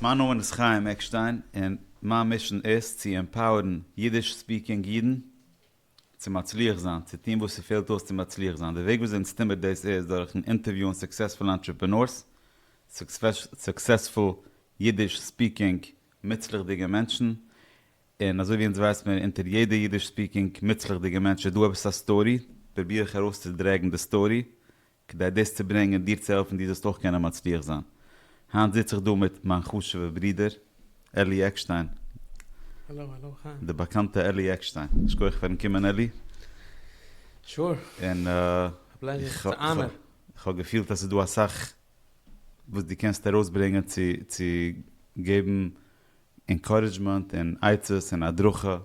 מיין נאמען איז חיים עקשטיין און מיין מישען איז צו עמפאוערן אידיש ספיקינג אידן צו מצליח זיין, צו טון וואס ס'פעלט אויס צו מצליח זיין. די וועג וויאזוי אונז טון מיר דאס איז דורכ'ן אינטערוויוען סוקסעספולע אנטרעפענארס, סוקסעספול אידיש ספיקינג מוצלח'דיגע מענטשן, און אזוי ווי אונז ווייסט מיר אונטער יעדע אידיש ספיקינג מוצלח'דיגע מענטש איז דא עפעס א סטארי, פרוביר איך ארויסצודרעגן די סטארי כדי דאס צו ברענגען, דיר צו העלפן דו זאלסט אויך קענען מצליח זיין. היינט זיץ איך דא מיט מיין חשוב'ע ברודער, אלי עקשטיין. האלאו האלאו, היי. די באקאנטע אלי עקשטיין. שכוח פארן קומען אלי. שור. און איך האב געפילט אז ס'איז דא אסאך וואס דו קענסט ארויסברענגען צו געבן ענקארעדזשמענט און עצות און הדרכה.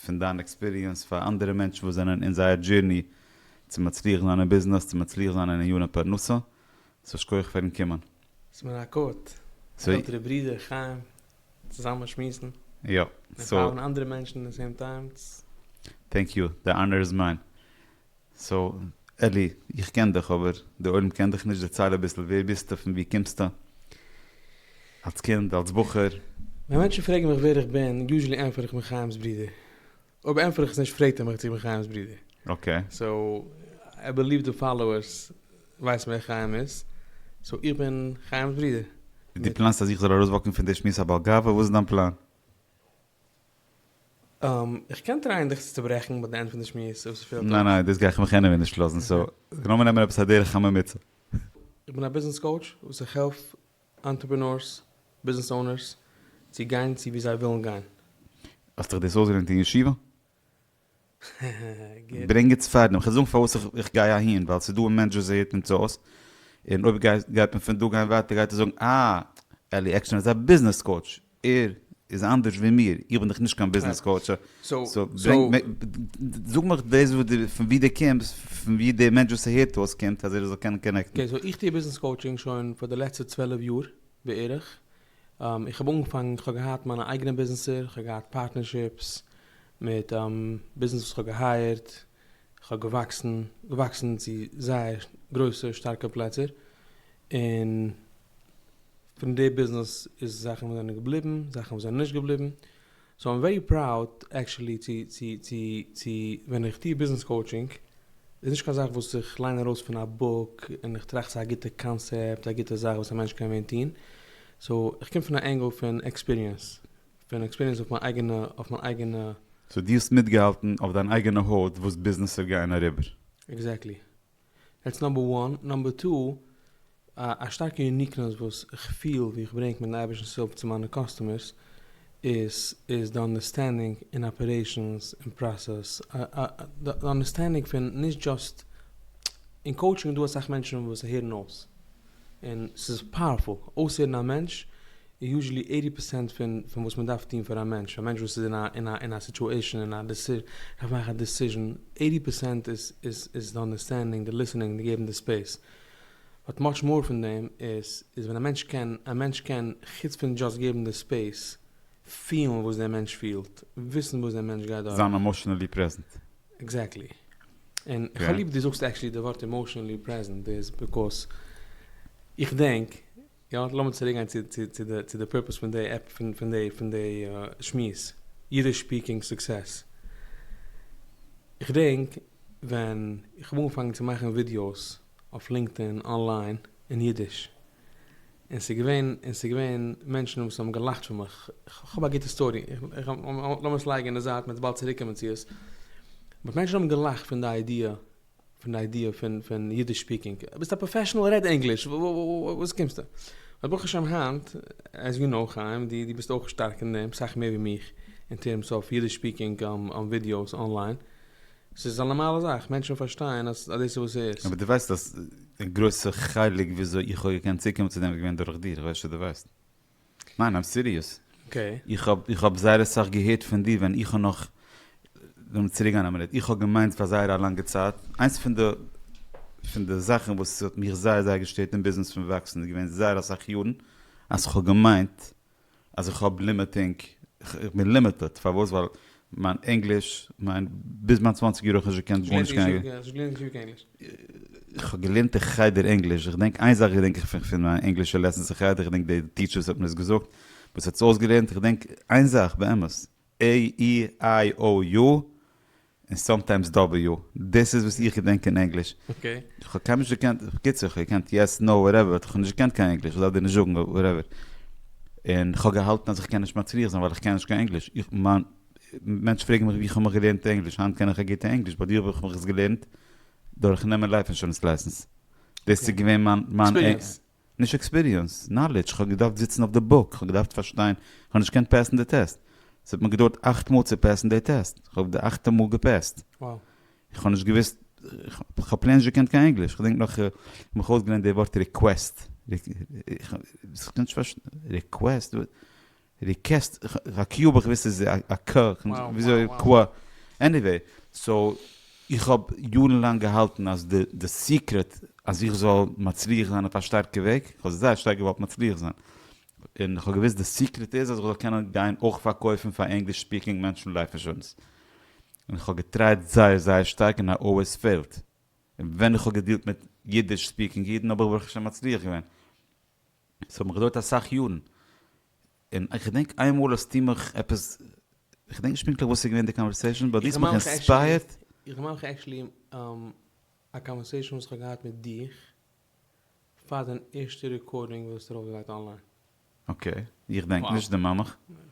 פון דיין עקספיריענס פאר אנדערע מענטשן וואס זענען אין זייער דזשירני צו מצליח זיין אין ביזנעס צו מצליח זיין אין עניני פרנסה, סאו יישר כח פארן קומען. ס'איז מיר א כבוד א עלטערע ברודער חיים צוזאמען שמועסן און פאלאווען אנדערע מענטשן אין די סעים טיימס. טענק יו, די אנער איז מיין. סאו אלי, איך קען דיך אבער די עולם קען דיך נישט, דערצייל אביסל ווער ביסטו פון ווי קומסטו אלס קינד אלס בחור? ווען מענטשן פרעגן מיך ווער איך בין יוזשעלי ענטפער איך בין חיים'ס ברודער, אויב ענטפער איך עס נישט פרעגט ער מיך צו איך בין חיים'ס ברודער, אקעי. סאו איי בעליוו די פאלאוערס ווייסן ווער חיים איז, סאו איך בין חיים'ס ברודער. דו פלאנסט אז איך זאל ארויסוואקן פון די שמועס א בעל גאווה? וואס איז דיין פלאן? איך קען טרייען דיך צו צוברעכן ביי די ענד פון די שמועס אויב ס'פעלט אויס. ניין ניין דאס גיי איך מיך עניוועי נישט לאזן סאו לאמיר נעמען עפעס א דרך הממוצע. איך בין א ביזנעס קאוטש וואס איך העלף אנטרעפרענארס, ביזנעס אונערס, צו גיין צו וואו זיי ווילן גיין. האסט דיך דאס אויסגעלערנט אין ישיבה? ברענג עטס פאר דעם, כ'וועל זאגן פארוואס איך גיי אהין, ווייל ס'איז דא א מענטש וואס זעהט אונז אויס, און אויב גייט מען פון דא גיין ווייטער גייט ער זאגן אה, אלי עקשטיין איז א ביזנעס קאוטש, ער איז אנדערש ווי מיר, איך בין דאך נישט קיין ביזנעס קאוטש, זאג מיך דאס פון ווי דו קומסט, פון ווי דער מענטש וואס ס'הערט אויס קומט, אז ער זאל קענען קאנעקטן. אקעי, סאו איך טוה ביזנעס קאוטשינג שוין פאר די לעצטע צוועלף יאר בערך, איך האב אנגעפאנגען, איך האב געהאט מיינע אייגענע ביזנעסער, איך האב געהאט פארטנערשיפס מיט ביזנעס וואס איך האב געהייערט, איך האב געוואקסן, געוואקסן צו זייער גרויסע שטארקע פלעצער, און פון די ביזנעס איז זאכן וואס זענען געבליבן, זאכן וואס זענען נישט געבליבן. סאו איים ווערי פראוד עקשעלי צו צו צו צו ווען איך טוה ביזנעס קאוטשינג איז נישט קיין זאך וואס איך ליין ארויס פון א בוק און איך טראכט ס'איז א גוטע קאנסעפט א גוטע זאך וואס א מענטש קען ווען טוהן סאו איך קום פון א ענגל פון עקספיריענס פון עקספיריענס אויף מיין אייגענע אויף מיין אייגענע סאו דו האסט מיטגעהאלטן אויף דיין אייגענע הויט וואס ביזנעסער גייען אריבער. עקזעקטלי. דעטס נאמבער וואן, נאמבער טו, א שטארקע יוניקנעס וואס איך פיל ווי איך ברענג מיטן אייבערשטן סופ צו מיינע קאסטומערס איז איז די אנדערסטענדינג אין אפערעישאנס און פראסעס, די אנדערסטענדינג פון נישט דזשאסט, אין קאוטשינג איז דא אסאך מענטשן וואס הערן אויס. און ס'איז פאוערפול אויסהערן א מענטש איז יוזשעלי עיטי פערסענט פון פון וואס מען דארף טון פאר א מענטש, א מענטש וואס איז אין א אין א אין א סיטועשען אין א דעסי דארף מאכן א דעסיזשען עיטי פערסענט איז איז איז די אנדערסטענדינג די ליסענינג די געבן די ספעיס באט מאטש מאר פון דעם איז איז ווען א מענטש קען א מענטש קען חוץ פון דזשאסט געבן די ספעיס פילן וואס דער מענטש פילט וויסן וואס דער מענטש גייט דורך. זיין עמאשענעלי פרעזענט. עקזעקטלי. און איך האב ליב דו זאגסט עקשעלי די ווארט עמאושענעלי פרעזענט איז ביזקאוס איך דענק, יא, לאמיר צוריק גיין צו די פורפעס פון די עפ פון די פון די שמועס, אידיש ספיקינג סוקסעס. איך דענק ווען איך האב אנגעפאנגען צו מאכן ווידיאוס אויף לינקדאין אנליין אין אידיש, און ס'איז געווען, און ס'איז געווען מענטשן וואס האבן געלאכט פון מיך, כ'האב א גוטע סטארי, לאמיר עס לייגן אין די זייט, מ'וועט באלד צוריק קומען צו עס, באט מענטשן האבן געלאכט פון די איידיע, פון די איידיע פון פון אידיש ספיקינג, ביסט א פראפעשענעל רעד ענגליש, וואס קומסטו? באט ברוך השם היינט, עז יו נאו חיים, דו דו ביסט אויך שטארק אין דעם, סאך מער ווי מיך, אין טערמס אויף אידיש ספיקינג ווידיאוס אנליין, ס'איז א נארמאלע זאך, מענטשן פארשטייען אז דאס איז וואס ס'איז. אבער דו ווייסט אז א גרויסע חלק וויאזוי איך האב געקענט צוקומען צו דעם איז געווען דורך דיר, איך ווייס נישט צו דו ווייסט. ניין איים סיריעס. אקעי. איך האב איך האב זייער אסאך געהערט פון דיר ווען איך האב נאך, לאמיר צוריק גיין א מינוט, איך האב געמיינט פאר זייער א לאנגע צייט, איינס פון די פון די זאכן וואס האט מיך זייער זייער געשטערט אין ביזנעס פון וואקסן איז געווען זייער אסאך יארן, אז איך האב געמיינט אז איך האב לימיטינג, איך בין לימיטעד, פארוואס? ווייל מיין ענגליש, מיין, ביז מיין צוואנציג יאר האב איך נישט געקענט גארנישט קיין ענגליש. האסט געלערנט אין שיעור קיין ענגליש? איך האב געלערנט אין חדר ענגליש, איך דענק איין זאך געדענק איך פון פון מיין ענגלישע לעסענס אין חדר, איך דענק די טיטשער וואס האט מיר עס געזאגט, וואס האט עס אויסגעלערנט, איך דענק איין זאך באמת, עי אי איי או יו, און סאמטיימס דאבעליו, דאס איז וואס איך געדענק אין ענגליש. כ'האב קיינמאל נישט געקענט, בקיצור, כ'האב געקענט יעס, נאו, וואטעווער, באט כ'האב נישט געקענט קיין ענגליש, כ'דארף דיר נישט זאגן, וואטעווער. און כ'האב געהאלטן אז כ'קען נישט מצליח זיין ווייל כ'קען נישט קיין ענגליש. איך מיין, מענטשן פרעגן מיך ווי כ'האב מיך געלערנט ענגליש, היינט קען איך א גוטע ענגליש, ביי דיר האב איך מיך עס געלערנט דורך נעמען לייף אינשורענס לייסענס. דאס איז געווען מיין, מיין, נישט עקספיריענס, נאלידזש, כ'האב געדארפט זיצן אויף די בוק, כ'האב געדארפט פארשטיין, כ'האב נישט געקענט פעסן די טעסט, ס'האט מיר געדויערט אכט מאל צו פעסן די טעסט, כ'האב די אכטע מאל געפעסט, כ'האב נישט געוואוסט, כ'האב פלעין נישט געקענט קיין ענגליש, כ'דענק נאך כ'האב מיך אויסגעלערנט די ווארט ריקוועסט, ריקוועסט? די קעסט א קיו האב איך געוויסט איז א ק וויאזוי ק עניוועי סאו איך האב יארן לאנג געהאלטן אז די די סיקרעט אז איך זאל מצליח זיין אויף א שטארקע וועג איך האב זייער שטארק געוואלט מצליח זיין און איך האב געוויסט די סיקרעט איז אז איך זאל קענען גיין אויך פארקויפן פאר ענגליש ספיקינג מענטשן לייף אינשורענס און איך האב געטרייט זייער זייער שטארק און איי אלוועיס פעילד און ווען איך האב געדילט מיט אידיש ספיקינג אידן האב איך ברוך השם מצליח געווען. עס האט מיך געדויערט אסאך יארן, און איך געדענק איין מאל האסטו מיך עפעס, איך געדענק נישט פונקטליך וואס איז געווען די קאנווערסעישאן, באט דו האסט מיך אינספייערט. איך דערמאן מיך עקשעלי א קאנווערסעישאן וואס איך האב געהאט מיט דיך, פאר דיין ערשטע רעקארדינג וואס איז ארויפגעלייגט אנליין. אקעי, איך דענק נישט, דערמאן מיך.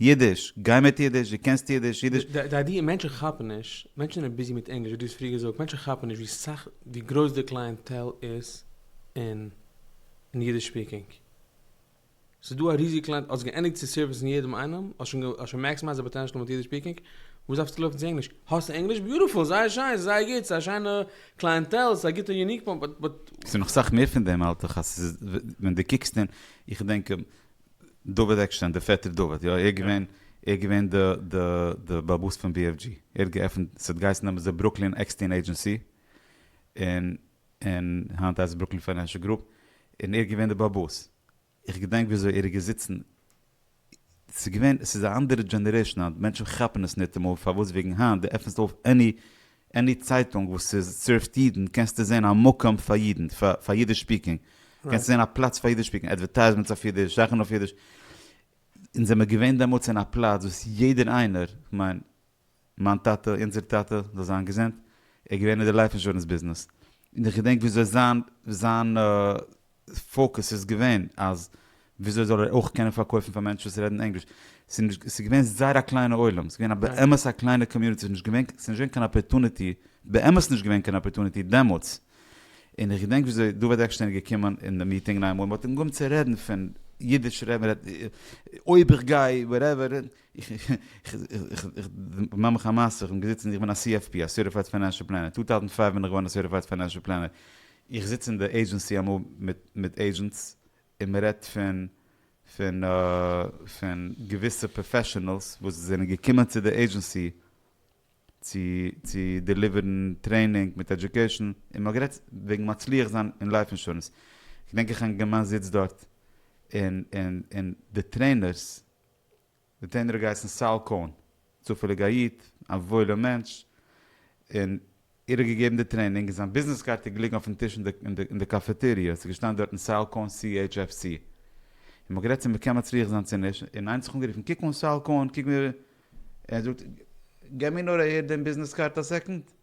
אידיש, גיי מיט אידיש, דו קענסט אידיש, אידיש. די איידיע, מענטשן כאפן נישט, מענטשן זענען ביזי מיט ענגליש, ווי דו האסט פריער געזאגט, מענטשן כאפן נישט ווי סאך, ווי גרויס די קלייענטעל איז אין אידיש ספיקינג. ס'איז דא א ריזיגע קלייענט, האסט געענדיגט צו סערוויסן יעדעם איינעם, האסט שוין, האסט שוין מעקסימייזט די פאטענשעל מיט אידיש ספיקינג, וואס דארפסטו לויפן צו ענגליש? האסט ענגליש? ביוטיפול! זייער שיין! ס'איז זייער גוט! ס'איז א שיינע קלייענטעל, ס'איז א גוטע יוניק פוינט, באט. ס'איז נאך סאך מער פון דעם האלט איך, אז ס'איז, ווען דו קוקסט אין, איך דענק, דוד עקשטיין דער פעטער דוד יא ער געווען ער געווען די די די באבוס פון BFG ער האט געעפענט ס'האט געהייסן דעמאלטס די ברוקלין עקסטיין עדזשענסי און און היינט הייסט עס ברוקלין פיינענשעל גרופ און ער איז געווען די באבוס איך געדענק וויאזוי ער איז געזיצן ס'איז געווען ס'איז א אנדערע דזשענערעישן היינט מענטשן כאפן עס ניטעמאל פארוואס וועגן היינט די עפענסט אויף עני עני צייטונג וואס איז סערווט אידן קענסטו זען א מקום פאר אידן, פאר אידיש ספיקינג, קענסטו זען א פלאץ פאר אידיש ספיקינג, אדווערטייזמענטס אויף אידיש, זאכן אויף אידיש, אונז זעמער געווען דעמאלטס אין א פלאץ וואס יעדער איינער, כ'מיין מיין טאטע, אונזער טאטע, זאל זיין געזונט, ער איז געווען אין די לייף אינשורענס ביזנעס, און איך געדענק וויאזוי זיין זיין פאוקוס איז געווען אז וויאזוי זאל ער אויך קענען פארקויפן פאר מענטשן וואס רעדן ענגליש, ס'איז געווען זייער א קליינע עולם, ס'איז געווען באמת א קליינע קאמיוניטי, ס'איז נישט געווען קיין אפערטוניטי, באמת נישט געווען קיין אפערטוניטי דעמאלטס, און איך געדענק וויאזוי דוד עקשטיין איז געקומען אין די מיטינגען איינמאל און מ'האט אים געהויבן צו רעדן פון אידיש רעדן, אויב איך גיי וואטעווער, איך דערמאן מיך א מעשה, איך בין געזיצן, איך בין א CFP, א סערטיפייד פיינענשל פלענער, טא טויזנט פֿינף בין איך געווארן א סערטיפייד פיינענשל פלענער, איך זיץ אין די עידזשענסי אמאל מיט עידזשענטס און מען רעדט פון געוויסע פראפעשענעלס וואס זענען געקומען צו די עידזשענסי צו דעליווערן טרעינינג מיט עדיוקעישן און מען האט גערעדט וועגן מצליח זיין אין לייף אינשורענס, געדענק איך א אינגערמאן זיצט דארט און די טרעינערס די טענער האט געהייסן סאל קאהן, צופעליג א איד, א וואוילער מענטש, און ער האט געגעבן די טרעינינג, און זיין ביזנעס קארטע איז געליגן אויפן טיש אין די קאפעטעריע, עס איז געשטאנען דארטן סאל קאהן CHFC, און מ'האט גערעדט צו מ'קען מצליח זיין צו נישט, און איינער האט זיך אנגערופן, קוק אן סאל קאהן, קוק ווי ער, און ער זאגט, געב מיר נאר אהער דעם ביזנעס קארד א סעקאנד.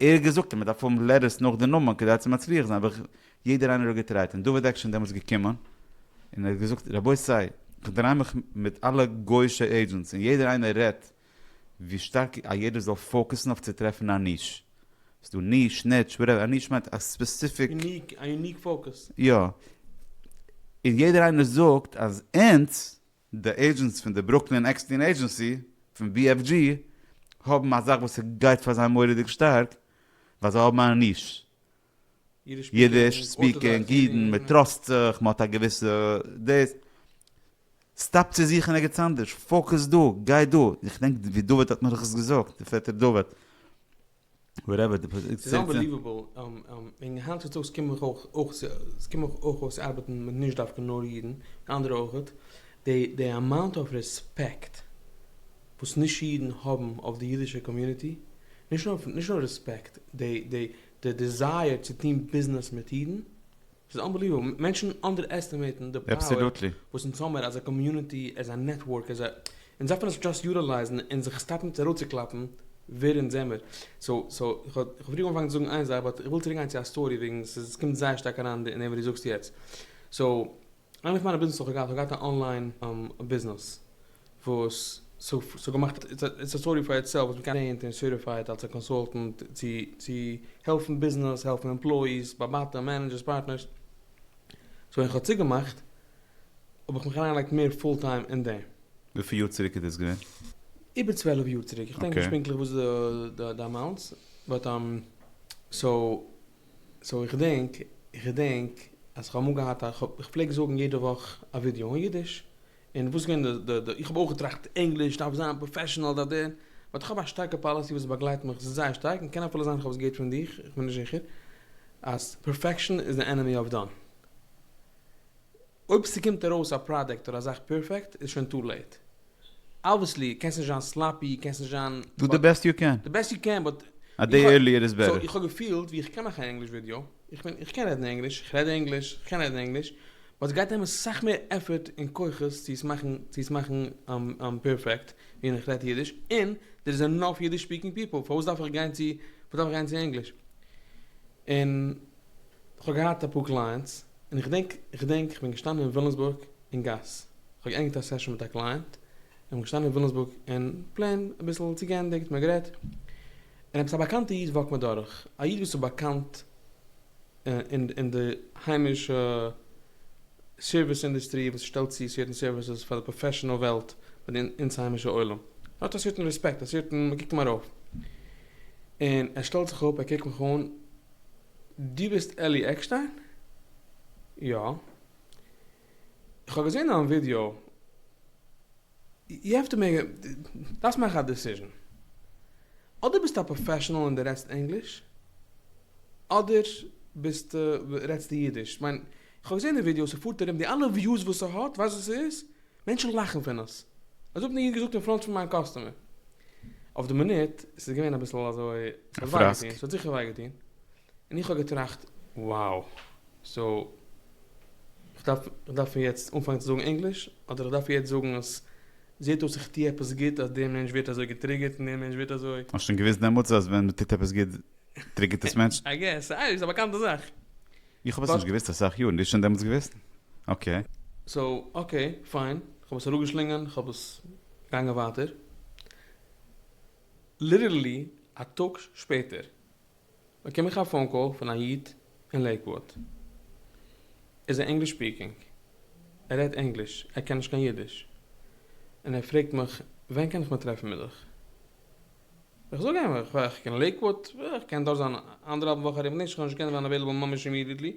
ער האט געזאגט אז מען דארף האבן לעטערס נאך די נאמען כדי צו מצליח זיין, אבער יעדער איינער האט געטרייט, און דוד עקשן דעמאלטס געקומען, און ער האט געזאגט רבותי כ'דריי מיך מיט אלע גויאישע עידזשענטס און יעדער איינער רעדט ווי שטארק א יעדער זאל פאוקעסן אויף צו טרעפן א ניש, ס'איז דא ניש, ניטש, וואטעווער, א ניש מיינט א ספעסיפיק, א יוניק פאוקעס. יא, און יעדער איינער זאגט אז אונז. די עידזשענטס פון די ברוקלין עקסטען עידזשענסי פון BFG האבן א זאך וואס ס'גייט פאר זיי מורא'דיג שטארק ווייל זיי האבן א ניש, אידיש ספיקינג אידן, מ'טראסט זיך, מ'האט א געוויסע דעיס, סטאפ צו זוכן ערגעץ אנדערש, פאוקעס דא, גיי דא, איך דענק ווי דוד האט מיר דאך עס געזאגט, די פעטער דוד. וואטעווער די פאזיציע. ס'איז אנבעליוועבל, און היינט צוטאגס קומען דאך אויך אויך ס'קומען דאך אויך אויס ארבעטן מיט נישט דווקא נאר אידן, אנדערע אויכעט, די די אמאונט אוו רעספעקט וואס נישט אידן האבן אויף די אידישע קאמיוניטי, נישט נאר נישט נאר רעספעקט, די די די דיזייער צו טון ביזנעס מיט אידן, ס'איז אנבעליוועבל, מענטשן אנדער עסטימעיטן די פאוער וואס אונז האמער עז א קאמיוניטי, עז א נעטווארק, עז א, אונז דארף מיר עס דשאסט יוטילייזן און זיך סטאפן מיט אראפצוקלאפן ווער אונז זעמער. סאו סאו איך האב איך האב פאריאר אנגעפאנגען צו זאגן איין זאך באט איך וויל צוריקגיין צו א סטארי וועגן ס'איז ס'קומט זייער שטארק אריין אין דעם וואס דו זאגסט יעצט. סאו, איינע פון מיינע ביזנעסער האט געהאט האט געהאט א אנליין ביזנעס, וואס ס'האט געמאכט איטס א סטארי פאר איטסעלף וואס מ'קען זעהן און סערטיפייד אלס א קאנסולטענט צו צו העלפן ביזנעס העלפן עמפלאיס באבאטע מענעדזשערס פארטנערס סאו ווען כ'האב צוגעמאכט האב איך מיך אריינגעלייגט מער פול טיים אין דעם. וויפיל יאר צוריק איז דאס געווען? איבער צוועלף יאר צוריק, כ'דענק נישט פונקטליך וואס איז די אמאונטס באט סאו סאו איך געדענק איך געדענק אז כ'האב אמאל געהאט א כ'פלעג זאגן יעדע וואך א ווידיאו אין אידיש און וואס גייען די די איך האב אויך געטראכט ענגליש דארף זיין פראפעשענעל דא דא, באט איך האב א שטארקע פאליסי וואס באגלייט מיך זייער שטארק און קען אפילו זיין איך האב עס געהערט פון דיך איך בין נישט זיכער אז פערפעקשען איז די ענעמי אוו דאן. אויב ס'קומט ארויס א פראדוקט אדער א זאך פערפעקט איז שוין טו לעיט. אבוויעסלי קענסט נישט זיין סלאפי קענסט נישט זיין דו די בעסט יו קען. די בעסט יו קען באט א דעי ערליער איז בעטער. סאו איך האב געפילט ווי איך קען מאכן א ענגליש ווידיאו איך בין איך קען רעדן ענגליש איך רעד ענגליש איך קען רעדן ענגליש ווייל ס'גייט נעמען סאך מער עפערט און כוחות צו עס מאכן צו עס מאכן פערפעקט ווי איך רעדט אידיש, און דער איז ענאף אידיש ספיקינג פיפעל, פארוואס דארף איך גיין צו פארוואס דארף איך גיין צו ענגליש? און כ'האב געהאט אפאר קלייענטס, און איך געדענק איך געדענק כ'בין געשטאנען אין ווילאמסבורג אין גאס, כ'האב געענדיגט א סעשאן מיט א קלייענט, און כ'בין געשטאנען אין ווילאמסבורג און פלעין אביסל צו געענדיגט, מ'האט גערעדט, און עפעס א באקאנטע איד וואקט מיר דורך, א איד וואס איז באקאנט, אין די היימישע סערוויס אינדוסטרי וואס שטעלט צו סערטען סערוויסעס פאר די פראפעשענעל וועלט פון אונז היימישע עולם האט א סערטען רעספעקט א סערטען מ'קוקט אים ארויף און ער שטעלט זיך אפ ער קוקט מיך אן דו ביסט אלי עקשטיין? יא. איך האב געזען דיין ווידיאו. יו העוו טו מעיק א, דארפסט מאכן א דעסיזשן. אדער ביסטו א פראפעשענעל און די רעדסט ענגליש, אדער ביסטו, רעדסטו אידיש. כ'מיין, כ'האב געזען די ווידיאו, ס'פארט ארום, די אלע וויוס וואס ס'האט, ווייסט וואס ס'איז? מענטשן לאכן פון עס. אזוי האט מיר איינער געזאגט אין פראנט פון מיין קאסטומער. אויף די מינוט, ס'איז געווען אביסל אזוי, ס'האט וויי געטון, ס'האט זיכער וויי געטון. און איך האב געטראכט wow סאו איך דארף איך דארף פון יעצט אנפאנגען צו זאגן ענגליש אדער איך דארף יעצט זאגן אז זעט אויס איך טוה עפעס גוט אז דער מענטש ווערט אזוי געטריגערט און דער מענטש ווערט אזוי. האסט שוין געוויסט דעמאלטס אז ווען מ'טוט עפעס גוט טריגערט עס מענטשן? איי געס א איז א באקאנטע זאך. איך האב עס נישט געוויסט אסאך יארן, דו האסט שוין דעמאלטס געוויסט? אקעי. סאו אקעי פיין, איך האב עס אראפגעשלינגען, איך האב עס געגאנגען ווייטער. ליטערלי א טאג שפעטער. באקום איך א פאון קאל פון א איד אין לעיקוואד, איז ער ענגליש ספיקינג, ער רעדט ענגליש, ער קען נישט קיין אידיש, און ער פרעגט מיך ווען קען איך מיך טרעפן מיט דיך? איך זאג אים איך קען לעיקוואד, איך קען דארט זיין אנדערהאלבן וואך ארום, נישט איך וועל נישט קענען זיין עוועילעבל ממש אימידיעטלי,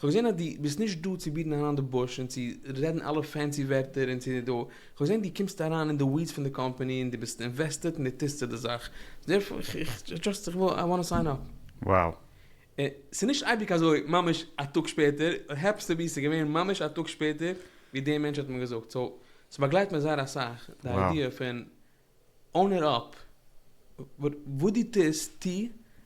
כ'האב געזען אז דו ביסט נישט דא צו ביטן אריין די בוש און צו רעדן אלע פענסי ווערטער און צו דא, כ'האב געזען דו קומסט אריין אין די ווידס פון די קאמפאני און דו ביסט אינוועסטעד און דו טוסט צו די זאך, דערפאר איך איך דזשאסט איך וויל איי וואנט סיין אפ. Wow. ס'איז נישט אייביג אזוי ממש א טאג שפעטער, איט העפענס טו בי ס'איז געווען ממש א טאג שפעטער ווי די מענטש האט מיר געזאגט, סאו ס'באגלייט מיר זייער אסאך די איידיע פון און איט אפ. וואס דו טוסט, טו,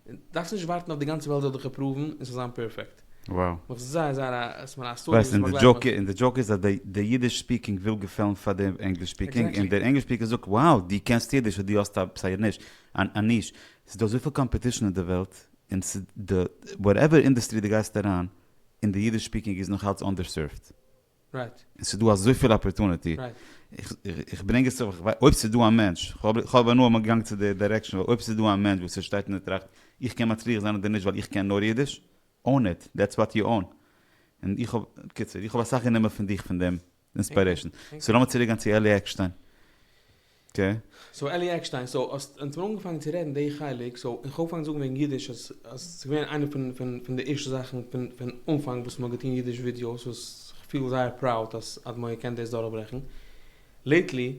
און דארפסט נישט ווארטן אויף די גאנצע וועלט זאל דיך אפראוון און ס'זאל זיין פערפעקט. וואו. נאך זייער זייער א ס מ א סטארי וואס באגלייט מיך. ווייסט, און די דזשאוק איז אז די אידיש ספיקינג וויל געפעלן פאר די ענגליש ספיקינג, און די ענגליש ספיקער זאגט wow דו קענסט אידיש סאו דו האסט א ס ה ניש, א ניש. ס'איז דא אזויפיל קאמפעטישן אין די וועלט, און ס ד וואטעווער אינדעסטרי דו גייסט אריין, און די אידיש ספיקינג איז נאך אלץ אנדערסערווד. רייט. און ס'איז דא אזויפיל אפערטוניטי. רייט. איך ברענג עס צו ווייל אויב ס'איז דא א מענטש, כ'האב אבער נאר אמאל געגאנגען צו די דיירעקשאן, ווייל אויב ס'איז דא א מענטש וואס ער שטייט און ער טראכט, איך קען מצליח זיין אדער נישט ווייל איך קען נאר אידיש, own it, דעטס וואט יו און. און איך האב, בקיצור, איך האב אסאך גענומען פון דיך פון דעם אינספיירעישאן. סאו לאמיר צוריק גיין צו אלי עקשטיין. קעי. סאו אלי עקשטיין, סאו האסט אונז מיר אנגעפאנגען צו רעדן די חלק, סאו איך האב אנגעפאנגען זאגן וועגן אידיש אז אז ס'איז געווען איינע פון פון פון די ערשטע זאכן פון פון אנפאנג וואס מ'האט געטון אידיש ווידיאוס וואס כ'פיל זייער פראוד אז אדמו ר קען דאס דורכברעכן לעיטלי.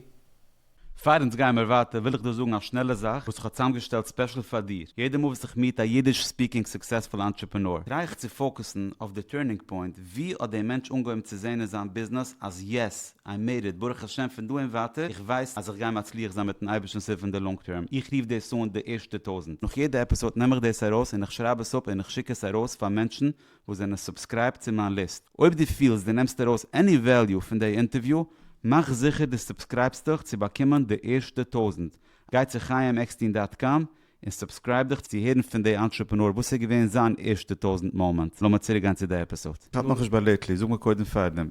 פאר אונז גייען מיר ווייטער וויל איך דא זאגן א שנעלע זאך וואס איך האב צוזאמגעשטעלט ספעשל פאר דיר, יעדע מאל וואס איך מיעט א אידיש ספיקינג סוקסעספול אנטרעפענאר טריי איך צו פאוקעסן אויף די טורנינג פוינט, ווי האט די מענטש אנגעהויבן צו זעהן אין זיין ביזנעס אז יעס, איי מעיד איט, ברוך השם פון דא און ווייטער איך ווייס אז איך גיי מצליח זיין מיטן אייבערשטנ'ס הילף אין די לאנג טערם, איך רוף דאס אן די ערשטע טויזנט, נאך יעדע עפיסאד נעם איך דאס ארויס און איך שרייב עס אפ און איך שיק עס ארויס פאר מענטשן וואס זענען סובסקרייבט צו מיין ליסט, אויב דו פילסט דו נעמסט ארויס עני וועליו פון די אינטערוויו, מאך זיכער דו סובסקרייבסט דיך צו באקומען די ערשטע טויזנט, גיי צו חיים עקסטין דאט קאם און סובסקרייב דיך צו הערן פון די אנטרעפענאר וואס איז געווען זיין ערשטע טויזענט מאמענט, לאמיר צוריק גיין צו די עפיסאד. כ'האלט נאכנישט ביי לעיטלי, זאג מיר קודם פארדעם,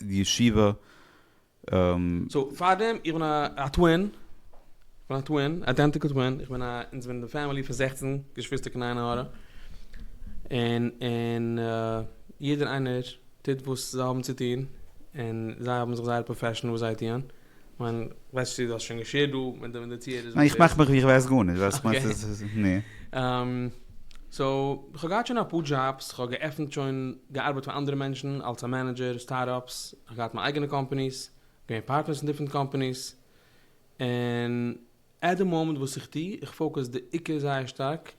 ישיבה. סאו פארדעם, איך בין א טווין, כ'בין א טווין, איידענטיקל טווין, איך בין א, אונז זענען די פעמילי פון זעכצן געשוויסטער קיין עין הרע, און און יעדער איינער טוט וואס זיי האבן צו טון, און זיי האבן זיך זייער פראפעשן וואס זיי טוען. כ'מיין, כ'ווייס נישט צו דו האסט שוין געשערט דא מיט די מעדיטירערס וואס די. איך מאך מיך ווי כ'ווייס גארנישט, ווייל כ'מיין ס'איז נו. סאו, כ'האב געהאט שוין אפאר דזשאבס, כ'האב געעפנט שוין, געארבעט פאר אנדערע מענטשן אלס א מענעדזשער, סטארט-אפס, כ'האב געהאט מיין אייגענע קאמפאניס, געווען פארטנערס אין דיפרענט קאמפאניס, און עט די מאמענט וואס איך טו, איך פאוקוס די עיקר זייער שטארק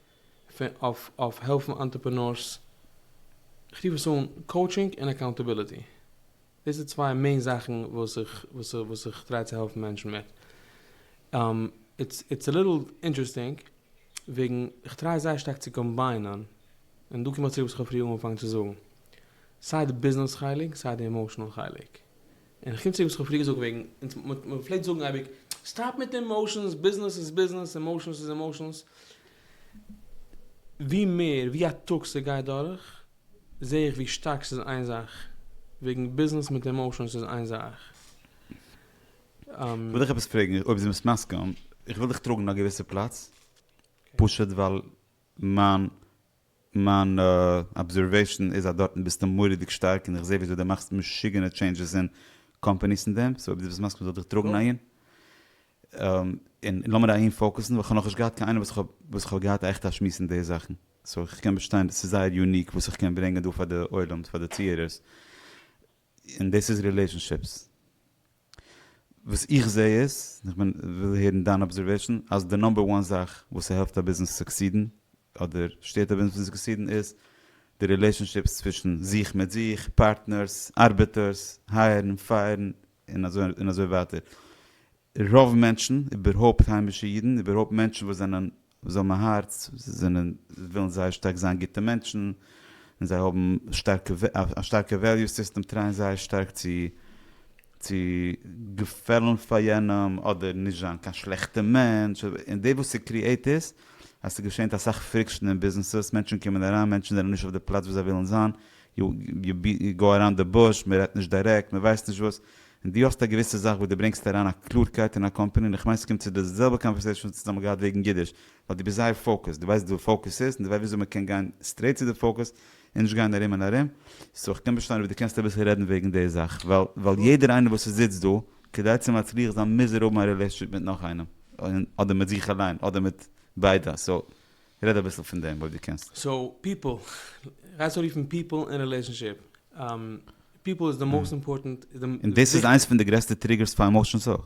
אויף אויף העלפן אנטרעפענארס, איך רוף עס אן קאוטשינג און אקאונטעביליטי. דאס איז צוויי מעין זאכן וואס איך וואס איך וואס איך טריי צו העלפן מענטשן מיט. איטס איטס א ליטל אינטערעסטינג וועגן איך טריי זייער שטארק צו קאמביינען, און דא קום איך צוריק וואס איך האב פריער אנגעפאנגען צו זאגן, סיי די ביזנעס חלק סיי די עמאושענעל חלק. און איך קום צוריק וואס איך האב פריער געזאגט וועגן אונז מ' מ' פלעגט זאגן אייביג סטאפ מיט די עמאושענס, ביזנעס איז ביזנעס, עמאושענס איז עמאושענס. ווי מער ווי א טאג ס'גייט דורך זעה איך ווי שטארק ס'איז איין זאך, וועגן ביזנעס מיט עמאושענס איז איין זאך. כ'וויל דיך עפעס פרעגן אויב דו ביסט מסכים, איך וויל דיך טראגן אין א געוויסע פלאץ, פשוט ווייל מיין מיין אבזערוועישאן איז אז דארטן ביסטו מורא'דיג שטארק און איך זעה וויאזוי דו מאכסט משוגענע טשעינדזשעס אין קאמפאניס און דעם, סאו אויב דו ביסט מסכים זאל איך דיך טראגן אהין, און לאמיר אהין פאוקוסן, ווייל כ'האב נאכנישט געהאט קיין איינעם וואס כ'האב וואס כ'האב געהאט א עכטע א שמועס אין די זאכן. סאו איך קען באשטיין דאס איז זייער יוניק וואס איך קען ברענגען דא פאר די עולם פאר די צוהערערס און דאס איז רילעשאנשיפס וואס איך זעה איז איך בין וויל הערן דיין אבזערוועישאן אז די נאמבער וואן זאך וואס ס'העלפט א ביזנעס סוקסידן אדער שטערט א ביזנעס פון סוקסידן איז די רילעשאנשיפס צווישן זיך מיט זיך, פארטנערס, ארבעטערס, הייערן, פייערן, און אזוי און אזוי ווייטער. רוב מענטשן, איבערהויפט היימישע אידן, איבערהויפט מענטשן וואס זענען וואס האבן א הארץ, זענען ווילן זייער שטארק זיין גוטע מענטשן, און זיי האבן שטארקע א שטארקע וועליו סיסטעם, טרייען זייער שטארק צו צו געפעלן פאר יענעם, אדער נישט זיין קיין שלעכטע מענטש, און די וואס ס'קריעט איז אז ס'געשענט אסאך פריקשן אין ביזנעסעס, מענטשן קומען אריין, מענטשן זענען נישט אויף די פלאץ וואס זיי ווילן זיין, יו גאו אראונד די בוש, מ'רעדט נישט דיירעקט, מ'ווייסט נישט וואס, און דו האסט א געוויסע זאך וואס דו ברענגסט אריין א קלארקייט אין א קאמפעני, און איך מיין ס'קומט צו די זעלבע קאנווערסעישאן וואס אונז האבן געהאט וועגן גידוש, ווייל דו ביסט זייער פאוקעסד, דו ווייסט וואס פאוקעס איז, און דו ווייסט וויאזוי מ'קען גיין סטרעיט צו די פאוקעס, און נישט גיין ארום און ארום, סאו איך קען באשטיין אויב דו קענסט אביסל רעדן וועגן די זאך, ווייל ווייל יעדער איינער וואס ס'זיצט דא, כדי צו מצליח זיין מוז ער האבן א רילעישאנשיפ מיט נאך איינעם, און אדער מיט זיך אליין, אדער מיט ביידע, סאו רעד אביסל פון דעם אויב דו קענסט. סאו פיפל, רייס אן רופן פיפל און רילעישאנשיפ. פיפל איז די מאסט אימפארטענט. און דאס איז איינס פון די גרעסטע טריגערס פאר עמאושענס אויך.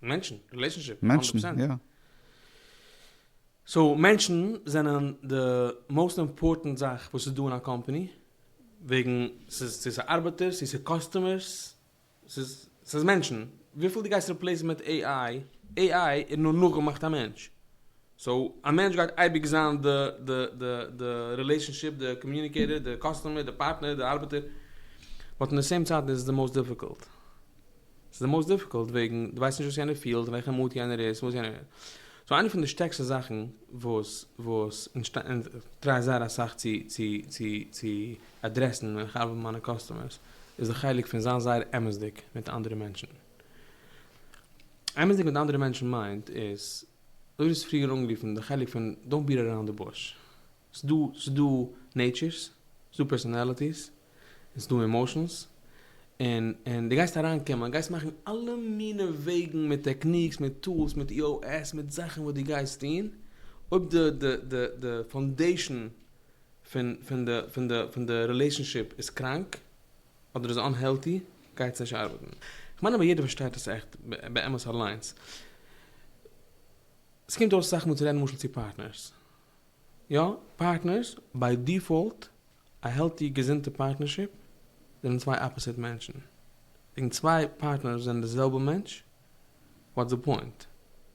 מענטשן, רילעישאנשיפ, הונדערט מענטשן, פראצענט. יא. סאו מענטשן זענען די מאסט אימפארטענט זאך וואס איז דא אין א קאמפאני, וועגן ס'איז צו ס'ארבעטערס צו ס'קאסטומערס. ס'איז ס'איז מענטשן, וויפיל דו גייסט ריפלעיסן מיט עי איי, עי איי איז נאר נאכגעמאכט א מענטש, סאו א מענטש גייט אייביג זיין די די די די רילעישאנשיפ, די קאמיוניקעיטער, די קאסטומער, די פארטנער, די ארבעטער, באט אין די סעים צייט איז עס די מאוסט דיפיקולט, ס'איז די מאוסט דיפיקולט וועגן דו ווייסט נישט וואס יענער פילט, אין וועלכע מוט יענער איז, וואס יענער, סאו איינע פון די שטערקסטע זאכן וואס וואס און כ'טריי זייער אסאך צו צו צו צו. אדרעסן ווען איך ארבעט מיט מיינע קאסטומערס איז א חלק פון זיין זייער אמת'דיג מיט אנדערע מענטשן. אמת'דיג מיט אנדערע מענטשן מיינט איז דאס וואס פריער אנגערופן די חלק פון דאונט ביעט אראונד די בוש. ס'דא ס'דא נעיטשערס, ס'דא פערסאנעליטיס, און ס'דא עמאשענס, און און דו גייסט אריינקומען, גייסט מאכן אלע מיני וועגן מיט טעקניקס, מיט טולס, מיט EOS, מיט זאכן וואס דו גייסט טון, אויב די די די די פאונדעישן פון פון די פון די פון די רילעישאנשיפ איז קראנק אדער איז אנהעלטי גייטס נישט ארבעטן. כ'מיין אבער יעדער פארשטייט עס עכט באמת אליינס. ס'קומט אויס אסאך מאל צו רעדן למשל צו פארטנערס. יא, פארטנערס, ביי דיפאלט, א העלטי געזונטע פארטנערשיפ, זענען צוויי אפאסיט מענטשן. וועגן צוויי פארטנערס זענען די זעלבע מענטש? וואטס די פוינט?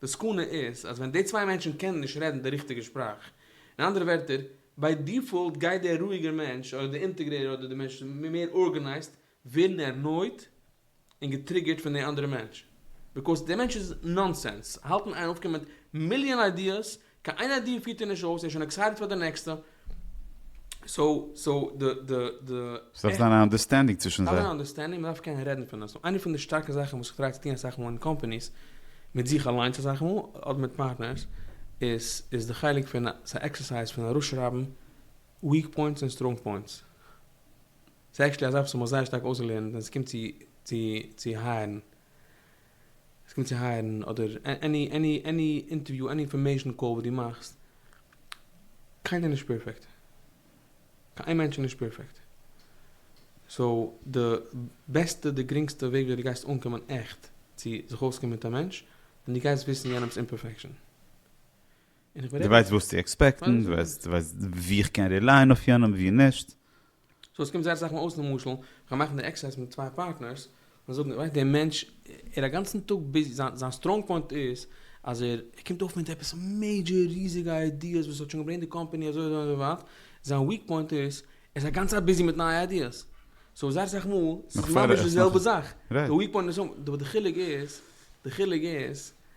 די סכנה איז אז ווען די צוויי מענטשן קענען נישט רעדן די ריכטיגע שפראך, אין אנדערע ווערטער, ביי דיפאלט גייט דער רואיגער מענטש אדער די אינטעגרעטער אדער די מענטש וואס איז מער ארגענייזט ווערן ערנויט און געטריגערט פון די אנדערע מענטש, ביקאוז די מענטש איז נאנסענס, האלטן איין אויפקומען מיט מיליאן איידיעס קיין איינער דיר פירט ער נישט אויס, ער איז שוין עקסייטעד פאר די נעקסטע, סאו סאו די די די. ס'דארף זיין א אנדערסטענדינג צווישן זיי. ס'דארף זיין א אנדערסטענדינג, מ'דארף קענען רעדן פון עס, איינע פון די שטארקע זאכן וואס איך טריי צו טון אסאך מאל אין קאמפעניס, מיט זיך אליינס אסאך מאל, אדער מיט פארטנערס, איז איז די חלק פון ס'א עקסערסייז פון אראפשרייבן וויעק פוינטס און סטראנג פוינטס. ס'איז עקטשעלי א זאך וואס איך האב מיך זייער שטארק אויסגעלערנט ווען ס'קומט צו צו צו הייערן. עס קומט צו הייערן אדער עני עני עני אינטערוויו עני אינפארמעישן קאל וואס דו מאכסט, קיינער איז נישט פערפעקט, קיין איין מענטש איז נישט פערפעקט, סאו די בעסטע די גרינגסטע וועג וויאזוי דו גייסט אנקומען עכט צו זיך אויסקומען מיט א מענטש, ווען דו גייסט וויסן יענעמ'ס אימפערפעקשאן. דו ווייסט וואס צו עקספעקטן, דו ווייסט וואו איך קען רילייען אויף יענעם וואו נישט. סאו עס קומט זייער אסאך מאל אויס למשל כ'גיי מאכן די עקסערסייז מיט צוויי פארטנערס און זאגן ווייסט די מענטש ער א גאנצן טאג ביזי זיין זיין סטראנג פוינט איז אז ער ער קומט אויף מיט עפעס מעידזשער ריזיגע איידיעס וואס האט שוין געברענגט די קאמפעני אזוי אזוי אזוי ווייט זיין וויק פוינט איז ער איז א גאנצע צייט ביזי מיט נייע איידיעס סאו זייער אסאך מאל ס'איז ממש די זעלבע זאך די וויק פוינט איז די חילוק איז די חילוק איז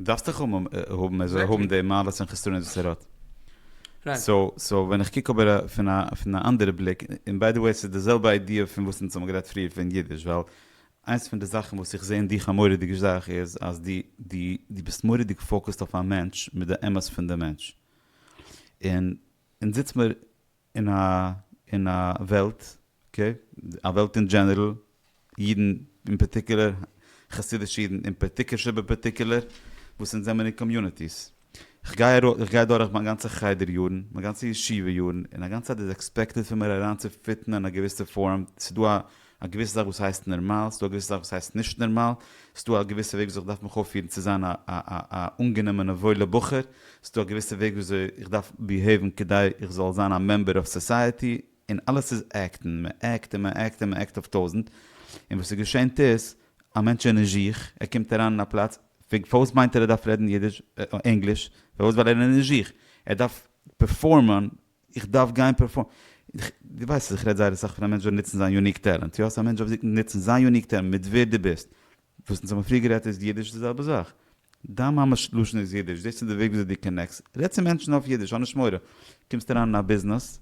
דארפסט דאך האבן האבן ער זאל האבן די מעלות און חסרונות וואס ער האט. סאו סאו ווען איך קוק אבער פון א פון א אנדערע בליק, און ביי די וועי ס'איז די זעלבע איידיע פון וואס אונז האבן גערעדט פריער פון אידיש, ווייל איינס פון די זאכן וואס איך זע אין דיך א מורא'דיגע זאך איז אז דו דו דו ביסט מורא'דיג פאוקעסד אויף א מענטש מיט די אמת פון די מענטש. און אונז זיצט מיר אין א אין א וועלט, אקעי, א וועלט אין דזשענערל, אידן אין פארטיקולער, חסידישע אידן אין פארטיקולער שבפארטיקולער, וואס אונז זעמער אין קאמיוניטיס. כ'גיי ארא כ'גיי דורך מיין גאנצע חדר יארן, מיין גאנצע ישיבה יארן, און א גאנצע צייט איז עקספעקטעד פון מיר אריינצופיטן אין א געוויסע פארעם, ס'דא א א געוויסע זאך וואס הייסט נערמאל, ס'דא א געוויסע זאך וואס הייסט נישט נערמאל, ס'דא א געוויסע וועג וויאזוי כ'דארף מיך אויפפירן צו זיין א א א א אנגענומענע וואוילע בחור, ס'דא א געוויסע וועג וויאזוי איך דארף ביהעיוון כדי איך זאל זיין א מעמבער אויף סאסייעטי, און אלעס איז עקטן, מ'עקט און מ'עקט און מ'עקט אויף טויזנט, און וואס ס'געשענט איז, א מענטש איז נישט זיך, ער קומט אריין אין א פלאץ, פארוואס מיינט ער ער דארף רעדן אידיש, ענגליש, פארוואס ווייל ער איז נישט זיך, ער דארף פערפארמען איך דארף גיין פערפארם. דו ווייסט אז איך רעד זייער אסאך פון א מענטש זאל נוצן זיין יוניק טעלענט. יא, ס'א מענטש דארף זיך נוצן זיין יוניק טעלענט מיט ווער דו ביסט. וואס אונז האבן פריער גערעדט איז אידיש די זעלבע זאך. דיין מאמע'ס לשון איז אידיש, דאס איז די וועג וויאזוי דו קאנעקסט. רעד צו מענטשן אויף אידיש, האב נישט מורא. קומסט אריין אין א ביזנעס,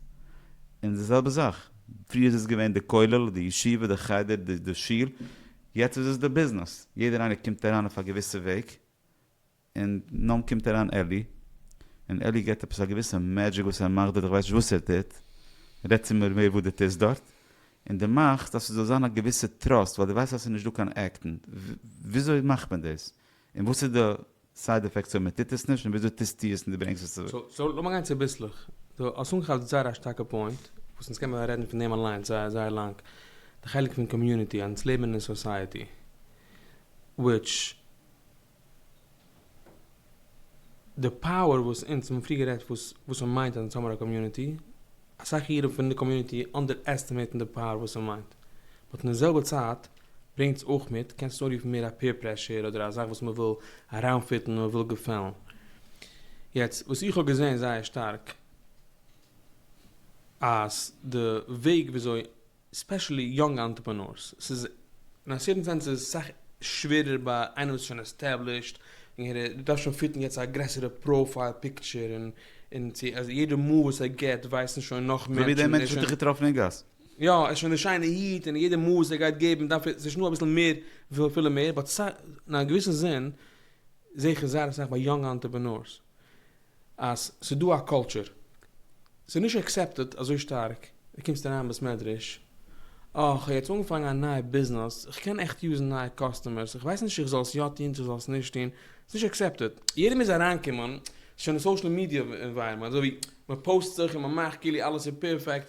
און די זעלבע זאך. פריער איז עס געווען די כולל, די ישיבה, די חדר, די שול. יעצט איז עס די ביזנעס. יעדער איינער קומט אריין אויף א געוויסע וועג. און נאן קומט אריין עלי, און עלי געט עפעס א געוויסע מעדזשיק וואס ער מאכט דארט, איך ווייס נישט וואס ער טוט, רעד צו מיר מער וואס דו טוסט דארט, און דו מאכסט אז ס'זאל זיין א געוויסע טראסט, ווייל דו ווייסט אז ס'איז נישט דא קיין עקטן, וויאזוי מאכט מען דאס? און וואס איז די סייד עפעקטס אויב מ'טוט עס נישט, און וויאזוי טוסטו עס און דו ברענגסט עס צוריק? סאו לאמיר גיין צוביסלעך, דו האסט אנגעכאפט זייער א שטארקע פוינט, וואס אונז קענמער רעדן פון דעם אליינס זייער זייער לאנג, די חלק פון קאמיוניטי, אז אונז לעבן אין סאסייעטי, וויטש. די פאוער וואס אונז האבן פריער גערעדט וואס וואס ס'מיינט אז אונז האבן א קאמיוניטי, אסאך אירע פון די קאמיוניטי אנדערעסטימעיטן די פאוער וואס ס'מיינט, באט אין די זעלבע צייט ברענגט עס אויך מיט, קענסט עס אנרופן מער א פעיר פרעשור אדער א זאך וואס מען וויל אריינפיטן מען וויל געפעלן. יעצט וואס איך האב געזען זייער שטארק אז די וועג וויאזוי ספעשעלי יונג אנטרעפענארס, ס'איז אין א סערטען סענס איז עס סאך שווערער ביי איינער וואס איז שוין עסטעבלישט, און ער דארף שוין פיטן יעצט א גרעסערע פראפייל פיקטשער, און און צו אז יעדע מאל וואס ער געט ווייסן שוין נאך מענטשן, אזוי ווי דער מענטש וואס ער האט שוין דיך געטראפן אין גאס. יא, ער איז שוין די שיינע היט, און יעדע מאל וואס ער גייט געבן דארף ער, ס'איז שוין דא אביסל מער וויל פילן מער, באט סא אין א געוויסן זין זעה איך עס זייער אסאך ביי יונג אנטרעפענארס, אז ס'איז דא א קולטשור, ס'איז נישט עקסעפטעד אזוי שטארק, דו קומסט אריין אין בית מדרש, אה, כ'האב יעצט אנגעפאנגען א נייע ביזנעס, כ'קען עכט יוזן נייע קאסטומערס, איך ווייס נישט איך זאל עס יא טון צו זאל עס נישט טון, ס'איז נישט עקסעפטעד, יעדער מוז אריינקומען, ס'איז שוין א סאושעל מידיע ענווייראמענט, אזוי ווי מ'פאוסט זיך און מ'מאכט כאילו אלעס איז פערפעקט,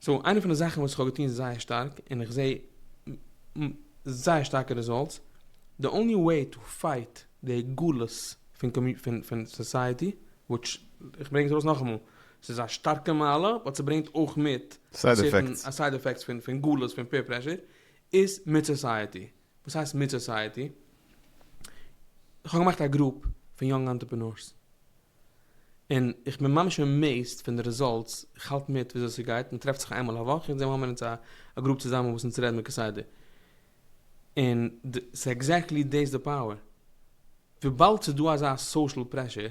סאו איינע פון די זאכן וואס איך האב געטון זייער שטארק און איך זעה זייער שטארקע רעזאלטס, די אנלי וועי טו פייט די גלות פון פון סאסייעטי, וויטש איך ברענג עס ארויס נאכאמאל, ס'איז א שטארקע מעלה באט ס'ברענגט אויך מיט סערטען א סייד עפעקטס פון פון גלות פון פעיר פרעשור, איז מיט סאסייעטי, וואס הייסט מיט סאסייעטי? איך האב געמאכט א גרופ פון יונג אנטרעפענארס, און איך בין ממש עמעיזד פון די רעזאלטס, איך האלט מיט וויאזוי ס'גייט, מ'טרעפט זיך איינמאל א וואך, יעצט דעם מאמענט איז א גרופ צוזאמען וואס אונז רעדן מיט כסדר, און ס'איז עקזעקטלי דאס די פאוער, וויבאלד ס'איז דא אזא סאושעל פרעשור,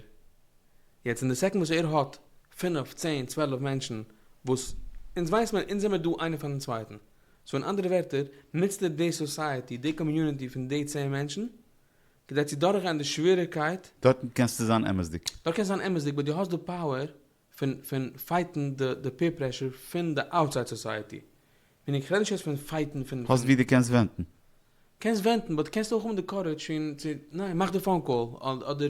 יעצט אין די סעקאנד וואס ער האט פינף, צען, צוועלף מענטשן וואס אונז ווייסט מען אונז זעמער דא איינער פארן צווייטן, סאו אין אנדערע ווערטער נוצט ער די סאסייעטי, די קאמיוניטי פון די צען מענטשן, כדי צו דורכגיין די שוועריגקייט. דארטן קענסטו זיין אמת'דיג. דארט קענסטו זיין אמת'דיג באט דו האסט די פאוער פון פון פייטן די די פעיר פרעשור פון די אוטסייד סאסייעטי. מיניג כ'רעד נישט יעצט פון פייטן פון פון. האסט ווי דו קענסט ווענטן. קענסט ווענטן באט קענסט אויך האבן די קארעדזש פון צו ניין מאך די פאון קאל אדער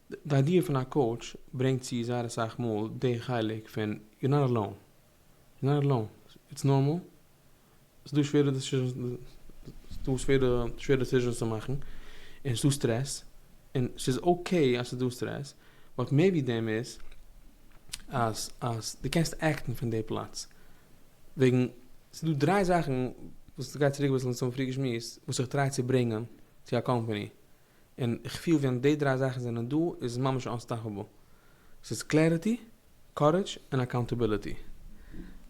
די איידיע פון א קאוטש ברענגט צו זייער אסאך מאל די חלק פון יו נאט עלאון, יו נאט עלאון, איטס נארמאל, ס'דא שווערע דעסיזשענס צו מאכן, און ס'דא סטרעס, און ס'איז אקעי אז ס'דא סטרעס, באט מעיבי דעם איז אז אז דו קענסט עקטן פון די פלאץ, וועגן ס'דא דריי זאכן וואס גייט צוריק אביסל צום פריעדיגע שמועס וואס איך טריי צו ברענגען צו א קאמפעני, און איך פיל ווען די דריי זאכן זענען דא איז עס ממש אנסטאפעבל. ס'איז קלעריטי, קארעדזש, און אקאונטעביליטי.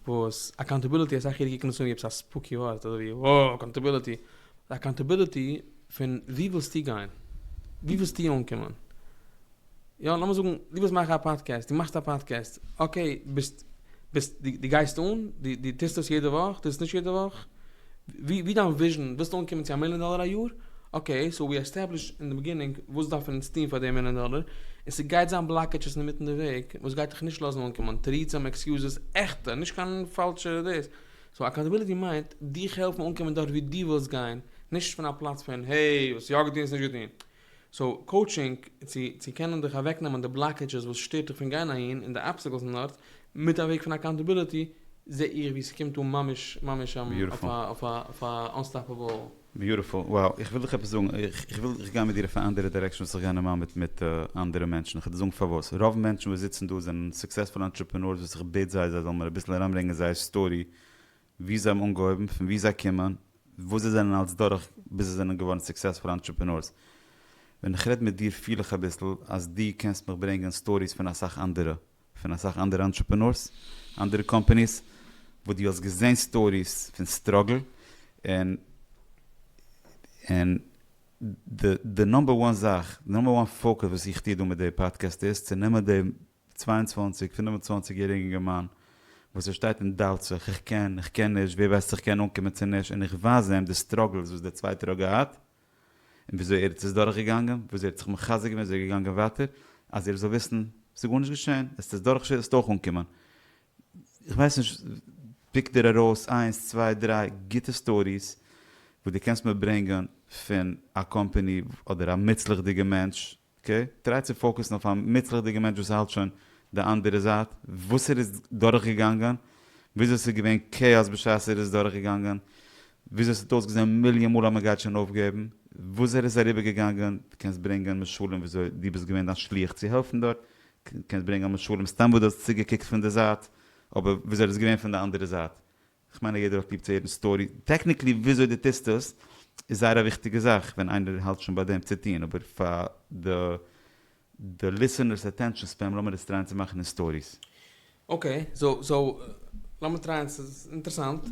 וואס אקאונטעביליטי אסאך אידן קוקן דאס אן ווי עפעס א ספוקי ווארט אזוי ווי וואו אקאונטעביליטי. אקאונטעביליטי פון וואו ווילסטו גיין? וואו ווילסטו אנקומען? יא לאמיר זאגן דו ווילסט מאכן א פאדקעסט, דו מאכסט א פאדקעסט, אקעי ביסט ביסט דו גייסט אן, דו דו טוסט עס יעדע וואך, טוסט עס נישט יעדע וואך, ווי ווי דיין וויזשען, ווילסט אנקומען צו א מיליאן דאלער א יאר, אקעי סאו ווי עסטעבלישט אין די ביגינינג וואס דארפן אונז טון פאר די מיליאן דאלער, און ס'גייט זיין בלאקעטשעס אינמיטן די וועג וואס גייט דיך נישט לאזן אנקומען, תירוצים עקסיוזעס, עכטע, נישט קיין פאלשע דאס, סאו אקאונטעביליטי מיינט דיך העלפן אנקומען דארט ווי דו ווילסט גיין, נישט פון א פלאץ פון העי וואס יא געטון וואס נישט געטון. סאו קאוטשינג צו צו קענען דיך אוועק נעמען די בלאקעדזשעס וואס שטערט דיך פון גיין אהין און די אבסטעקלס און דארט מיט א וועג פון אקאונטעביליטי זעה איך ווי ס'קומט אן ממש ממש אויף א אויף א אויף א אנסטאפעבל. ביוטיפול, וואו, איך וויל דיך עפעס זאגן, איך איך וויל איך גיי מיט דיר אויף א אנדערע דירעקשאן וואס איך גיי נארמאל מיט מיט אנדערע מענטשן, איך וועל דיר זאגן פארוואס, רוב מענטשן וואס זיצן דא זענען סוקסעספול אנטרעפענארס וואס איך בעט זיי זיי זאלן מיר אביסל אריינברענגען זייער סטארי ווי זיי האבן אנגעהויבן, פון וואו זיי קומען, וואס זיי זענען אלץ דורך ביז זיי זענען געווארן סוקסעספולע אנטרעפענארס. ווען איך רעד מיט דיר פיל איך אביסל אז דו קענסט מיך ברענגען סטאריס פון אסאך אנדערע, פון אסאך אנדערע אנטרעפענארס, אנדערע קאמפאניס, וואס דו האסט געזען סטאריס פון סטראגל, און די נומבער וואן זאך, די נומבער וואן פאוקעס וואס איך טוה דא מיט די פאדקעסט איז צו נעמען די צוויי און צוואַנציק, פֿינף און צוואַנציק יעריגן אינגערמאן וואס ער שטייט און דאוט זיך, איך קען, איך קען נישט, ווער ווייסט איך קען אנקומען צו נישט, און איך ווייז איהם די סטראגלס וואס דער צווייטער האט געהאט, און וויאזוי ער האט עס דורך געגאנגען, וויאזוי ער האט זיך מחזק געווען, וויאזוי ער איז געגאנגען ווייטער, אז איר זאלט וויסן, עס איז גארנישט געשעהן, עס איז דורך, וועסט אויך אנקומען. איך ווייס נישט, פיק דיר ארויס איינס, צוויי, דריי, גוטע סטאריס, וואס דו קענסט מיר ברענגען פון א קאמפעני, אדער א מוצלח'דיגע מענטש, ק, טריי צו פאוקעסן אויף א מוצלח'דיגע מענטש וואס האלט שוין די אנדערע זייט, וואס ער איז דורכגעגאנגען, וויאזוי ס'איז געווען כאאס בשעת ער איז דורכגעגאנגען, וויאזוי ס'האט אויסגעזען מיליאן מאל אז מ'גייט שוין אויפגעבן, וואס ער איז אריבערגעגאנגען, דו קענסט ברענגען משלים וויאזוי דו ביסט געווען דיין שליח צו העלפן דארט, קענסט ברענגען משלים סתם וואס דו האסט צוגעקוקט פון די זייט, אבער וויאזוי ער איז געווען פון די אנדערע זייט, כ'מיין אז יעדער האט ליב צו הערן סטארי, טעקניקלי וויאזוי די טוסט עס איז זייער א וויכטיגע זאך ווען איינער האלט שוין ביי דעם צו טון, אבער פאר די די ליסענערס אטענשאן ספען לאמיר עס טרייען צו מאכן אין סטאריס. אקעי סאו סאו לאמיר טרייען ס'איז אינטערסאנט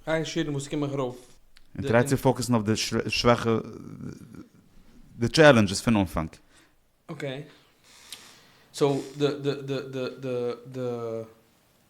גיי שירים וואס קומעך ארויף. און טריי צו פאוקעסן אויף די שוואכע די טשעלענדזשעס פון אנפאנג. אקעי סאו די די די די די די.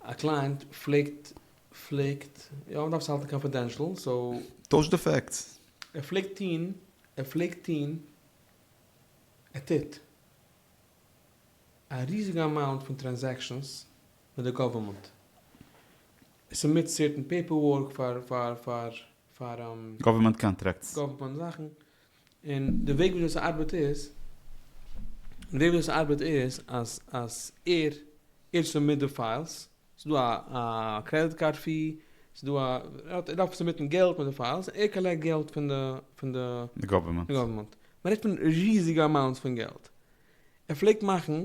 א קלייענט פלעגט פלעגט. יא מען דארף עס האלטן קאנפידענשל סאו. טויש די פעקטס. ער פלעגט טוהן ער פלעגט טוהן ער טוט. א ריזיגע אמאונט פון טרענזעקשאנס מיט די גאווערמענט. ער סובמיט סערטען פעיפער ווארק פאר פאר פאר פאר. גאווערמענט קאנטרעקטס. גאווערמענט זאכן. און די וועג וויאזוי ס'ארבעט איז, די וועג וויאזוי ס'ארבעט איז אז אז ער ער איז סאבמיט די פיילס, ס'דא א א קרעדיט קארד פי, ס'דא א ער דארף סאבמיטן געלט מיט די פיילס, ער קאלעקט געלט פון די פון די די גאווערמענט. גאווערמענט. מ'רעדט פון ריזיגע אמאונטס פון געלט. ער פלעגט מאכן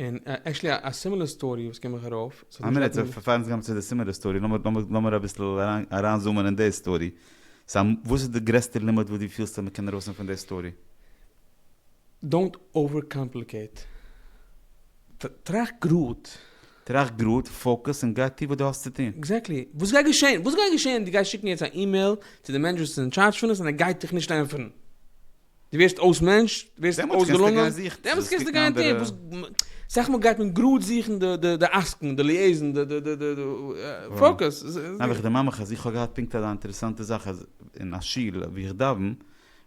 און עקשעלי א סימילער סטארי וואס קומט מיך ארויף, ס'האט א מינוט פאר אונז גיין צו די סימילער סטארי, לאמיר אביסל אריין זומען אין די סטארי, סא וואס איז די גרעסטע לימוד וואס דו פילסט אז מען קען ארויסנעמען פון די סטארי? דאונט אווער קאמפליקעיט, טראכט גראד. טראכט גראד, פאוקעס, און גיי טו וואס דו האסט צו טון. עקזעקטלי, וואס גייט געשען? וואס גייט געשען? דו גייסט שיקן יעצט א אימעיל צו די מענעדזשער וואס איז אין טשארדזש פון עס און ער גייט דיך נישט ענטפערן? דו ווערסט אויס מענטש, דו ווערסט אויסגעלונגען, דעמאלטס קענסטו גיין זוכן אנדערע, אסאך מאל גייט מען גראד זוכן די עסקן, די ליעזן, די פאוקעס. נאר איך דערמאן מיך אז איך האב געהאט פונקט אזא אינטערעסאנטע זאך אז אין א שול ווי איך דאווען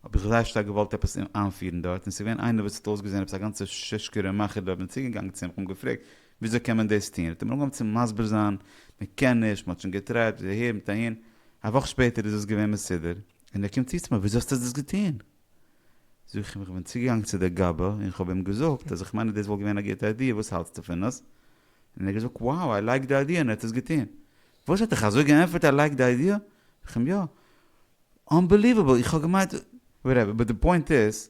האב איך זייער שטארק געוואלט עפעס איינפירן דארט און ס'איז געווען איינער וואס האט אויסגעזען עפעס א גאנצע שושקערע מאכער דארט, כ'בין צוגעגאנגען צו אים, כ'האב אים געפרעגט וויאזוי קען מען דאס טון, האט ער מיר אנגעהויבן צו מסביר זיין, מ'קען נישט, מ'האט שוין געטרייט, אהער מיט אהין, א וואך שפעטער איז דאס געווען מסודר. און ער קומט צו צו מיר, וויאזוי האסטו דאס געטון? זאג איך אים, איך בין צוגעגאנגען צו דער גאבע און כ'האב אים געזאגט אז איך מיין אז דאס וואלט געווען א גוטע איידיע, וואס האלטסטו פון עס? און ער האט געזאגט, wow, איי לייק די איידיע, און ער האט עס געטון. וואס? ער האט דיך אזוי געענטפערט איי לייק די איידיע? זאג איך אים, יא. אנבעליוועבל, איך האב געמיינט. וואטעווער, באט די פוינט איז,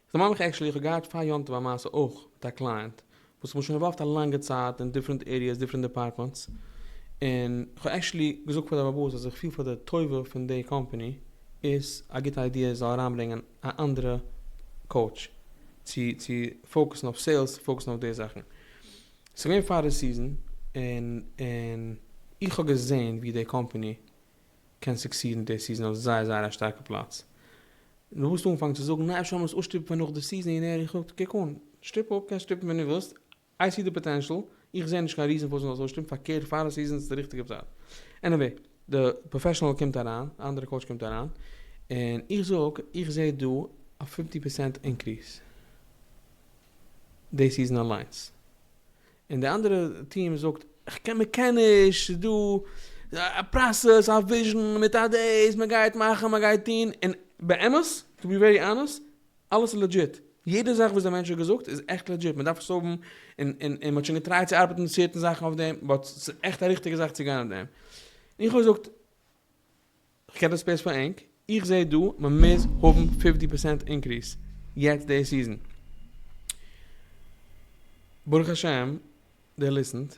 ס'דערמאנט מיך עקשעלי איך האב געהאט פאר יום טוב א מעשה אויך מיט א קלייענט וואס איך בין שוין אינוואלווד א לאנגע צייט אין דיפרענט עריעס דיפרענט דעפארטמענטס און איך האב עקשעלי געזאגט פאר די באבאס אז איך פיל פאר די טובה פון די קאמפאני איז א גוטע איידיע זאל אריינברענגען א אנדערע קאוטש צו צו פאוקעסן אויף סעילס צו פאוקעסן אויף די זאכן ס'איז געווען פאר די סיזען און און איך האב געזען ווי די קאמפאני קען סוקסידן די סיזען אויף זייער זייער א שטארקע פלאץ, און דו וואלסט אנגעפאנגן צו זאגן נא אפשר לאמיר עס אויסשטופן פאר נאך די סיזען און ער זאגט קוק אן, שטופ אפ, קענסט שטופן ווען דו ווילסט, איי סי די פאטענשעל, איך זע נישט קיין ריזען פארוואס מען זאל עס אויסשטופן, פארקערט פאר די סיזען איז די ריכטיגע צייט. עניוועי, די פראפעשענעל קומט אריין, די אנדערע קאוטש קומט אריין, און איך זאג איך זע דא א פיפטי פערסענט אינקריעס די סיזען אליינס, און די אנדערע טיעם זאגט כ'קען מ'קען נישט ס'איז דא א פראסעס א וויזשען מיט א דעיס מ'גייט מאכן מ'גייט טוהן און באמת טו בי ווערי אנעסט אלעס איז לעדזשיט יעדע זאך וואס די מענטש האט געזאגט איז עכט לעדזשיט מ'דארף עס האבן און און און מ'האט שוין געטרייט צו ארבעטן מיט סערטען זאכן אויף דעם באט ס'איז עכט א ריכטיגע זאך צו גיין אויף דעם און איך האב געזאגט כ'קען דאס פערס פאר ענק, איך זע דא מ'מוז האבן פיפטי פערסענט אינקריס יעצט די סיזען. ברוך השם דער ליסענט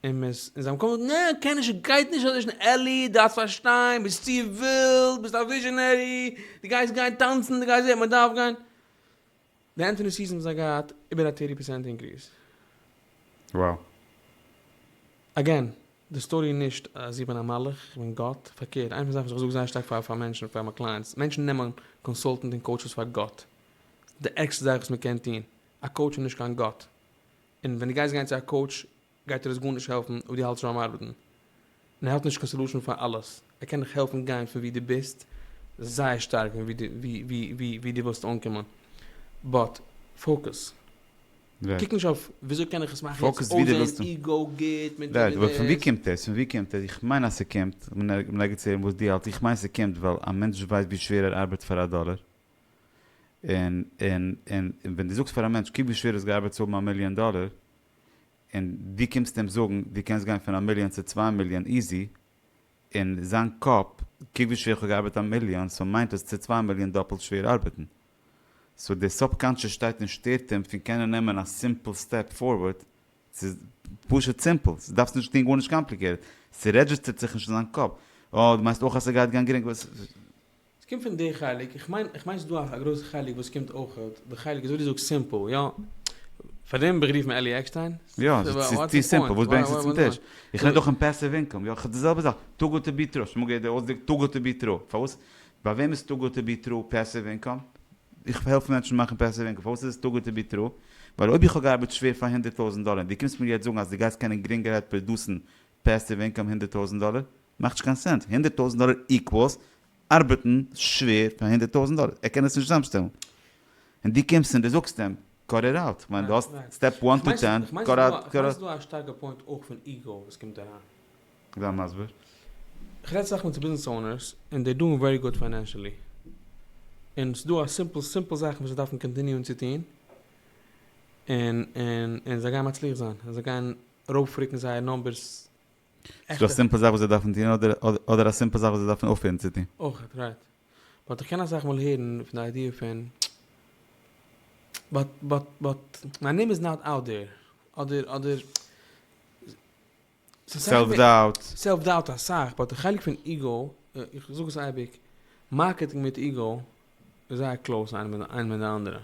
און מ'איז און זיי האבן קודם געזאגט נע קען נישט ס'גייט נישט אזוי שנעל עלי דארפסט פארשטיין ביסט צו ווילד ביסט א וויזשענערי די גייסט גיין טאנצן די גייסט זעהן מ'דארף גיין די ענטענע סיזען זיי געהאט איבער א טערטי פערסענט אינקריס. Wow. אגעין, די סטארי איז נישט אז איך בין א מלאך, איך בין גאט, פארקערט, איין פון זאכן וואס איך זאג זייער שטארק פאר פאר מענטשן, פאר מיין קלייענטס, מענטשן נעמען קאנסאלטענט און קאוטשעס פאר גאט, די ערגסטע זאך וואס מען קען טון, א קאוטש איז נישט קיין גאט, און ווען דו גייסט גיין צו א קאוטש גייט דיר עס גארנישט העלפן אויב דו האלטסט ביים ארבעטן. און ער האט נישט קיין סעלושען פאר אלעס. ער קען דיך העלפן גיין פון ווי דו ביסט זייער שטארק פון ווי ווי דו ווילסט אנקומען. באט פאוקעס. קוק נישט אויף וויאזוי קען איך עס מאכן יעצט אויסזען איגו גוט מיט דעם און דעם. פון ווי קומט עס? פון ווי קומט עס? איך מיין אז ס'קומט, כ'בין נאר געצויגן וואס דו האלטסט, איך מיין ס'קומט ווייל א מענטש ווייסט ווי שווער ער ארבעט פאר א דאלער. און און און און ווען דו זאגסט פאר א מענטש קוק ווי שווער עס געארבעט צו האבן א מיליאן דאלער. און דו קומסט אים זאגן דו קענסט גיין פון א מיליאן צו צוויי מיליאן איזי, אין זיין קאפ קוק ווי שווער איך האב געארבעט א מיליאן סאו מיינט עס צו צוויי מיליאן דאפלט שווער ארבעטן. סאו די סובקאנטשעס שטייט און שטערט אים פון קענען נעמען א סימפל סטעפ פארווארד, ס'איז פשוט סימפל, ס'דארפסט נישט טון גארנישט קאמפליקעטעד, ס'רעדזשיסטערט זיך נישט אין זיין קאפ, אה דו מיינסט אויך אז ס'גייט גיין גרינג. ס'קומט פון די חלק, איך מיין איך מיין ס'איז דא א גרויסע חלק וואס קומט אויך, די חלק איז אזוי ווי דו זאגסט סימפל, יא, פאר דעם האב איך גערופן עלי עקשטיין, יא, ס'איז צו סימפל, וואס ברענגסטו צום טיש, איך רעד אויך אין פעסיוו אינקאם, יא, די זעלבע זאך, טו גוד טו בי טרו, שמעו געהערט די אויסדרוק טו גוד טו בי טרו, פארוואס, ביי וועם איז טו גוד טו בי טרו פעסיוו אינקאם, איך העלף מענטשן מאכן פעסיוו אינקאם, פארוואס איז עס טו גוד טו בי טרו, ווייל אויב איך האב געארבעט שווער פאר הונדערט טויזנט דאלער, און דו קומסט מיר יעצט זאגן אז דו גייסט קענען גרינגערהייט פראדוסן פעסיוו אינקאם הונדערט טויזנט דאלער, מאכט נישט קיין סענס, הונדערט טויזנט דאלער איקוואלס ארבעטן שווער פאר הונדערט טויזנט דאלער, ער קען עס נישט צוזאמשטעלן, און דו קומסט און דו זאגסט אים קאט איט אוט, כ'מיין דו האסט סטעפ וואן טו טען, קאט אוט, קאט אוט. כ'מיין ס'איז דא א שטארקע פוינט אויך פון איגו וואס קומט אריין. זיי מסביר. כ'רעד סאך מיט ביזנעס אונערס און דעי דואינג ווערי גוד פיינענשעלי, און ס'דא א סימפל סימפל זאכן וואס זיי דארפן קאנטיניוען צו טון, און און און זיי גייען מצליח זיין, און זיי גייען ארויפרוקן זייער נומבערס איז דא א סימפל זאך וואס זיי דארפן טון אדער א סימפל זאך וואס זיי דארפן אויפהערן צו טון? אויכעט רייט. באט איך קען אסאך מאל הערן פון די איידיע פון באט באט באט מיי נעים איז נאט אוט דער אדער אדער סעלף דאוט. סעלף דאוט אסאך באט די חלק פון איגו איך זאג עס אייביג מארקעטינג מיט איגו איז זייער קלאוס איינע מיט די אנדערע.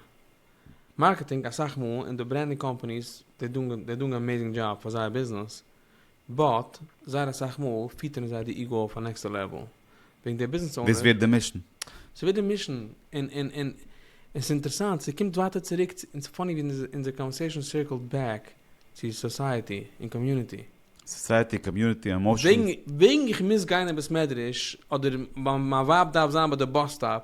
מארקעטינג אסאך מאל און די ברענדינג קאמפאניס זיי דאנג זיי דאנג עמעזינג דזשאב פאר זייער ביזנעס באט זייער אסאך מאל פיטערן זיי די איגאו אויף א נעקסטע לעוועל וועגן דער ביזנעס אונער. וואס ווערט די מישן? ס'ווערט די מישן און און און און ס'אינטערסאנט ס'קומט ווייטער צוריק צו און ס'פאני ווי אונזער קאנווערסעישאן סירקלט בעק צו סאסייעטי און קאמיוניטי. סאסייעטי, קאמיוניטי, עמאשענס. וועגן איך מוז גיין אין בית מדרש אדער מיין ווייב דארף זיין ביי די באס סטאפ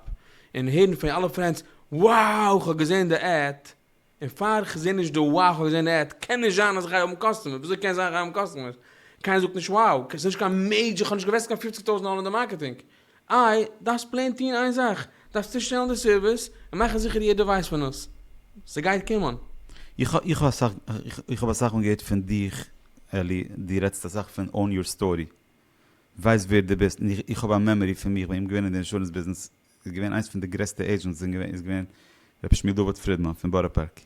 און הערן פון אלע פרענדס wow כ'האב געזען די עד און פאר איך זעה נישט די wow האב איך געזען די עד, קען נישט זיין אז איך גיי האבן קאסטומער, וויאזוי קען זיין איך גיי האבן קאסטומערס, קיינער זאגט נישט wow, ס'איז נישט קיין מעידזשער, כ'האב נישט געוועסט קיין פופציג טויזנט דאלער אין די מארקעטינג, איי, דארפסט פלעין טוהן איין זאך, דארפסט צושטעלן די סערוויס, און מאכן זיכער יעדער ווייסט פון עס, ס'גייט קומען. איך האב אסאך מאל געהערט פון דיך אלי, דו רעדסט אסאך פון own your story, ווייס ווער דו ביסט, און איך האב א מעמארי פון מיך בין געווען אין די אינשורענס ביזנעס איז געווען איינס פון די גרעסטע עידזשענטס אין געווען איז געווען ר' שמואל דוד פרידמאן פון בארא פארק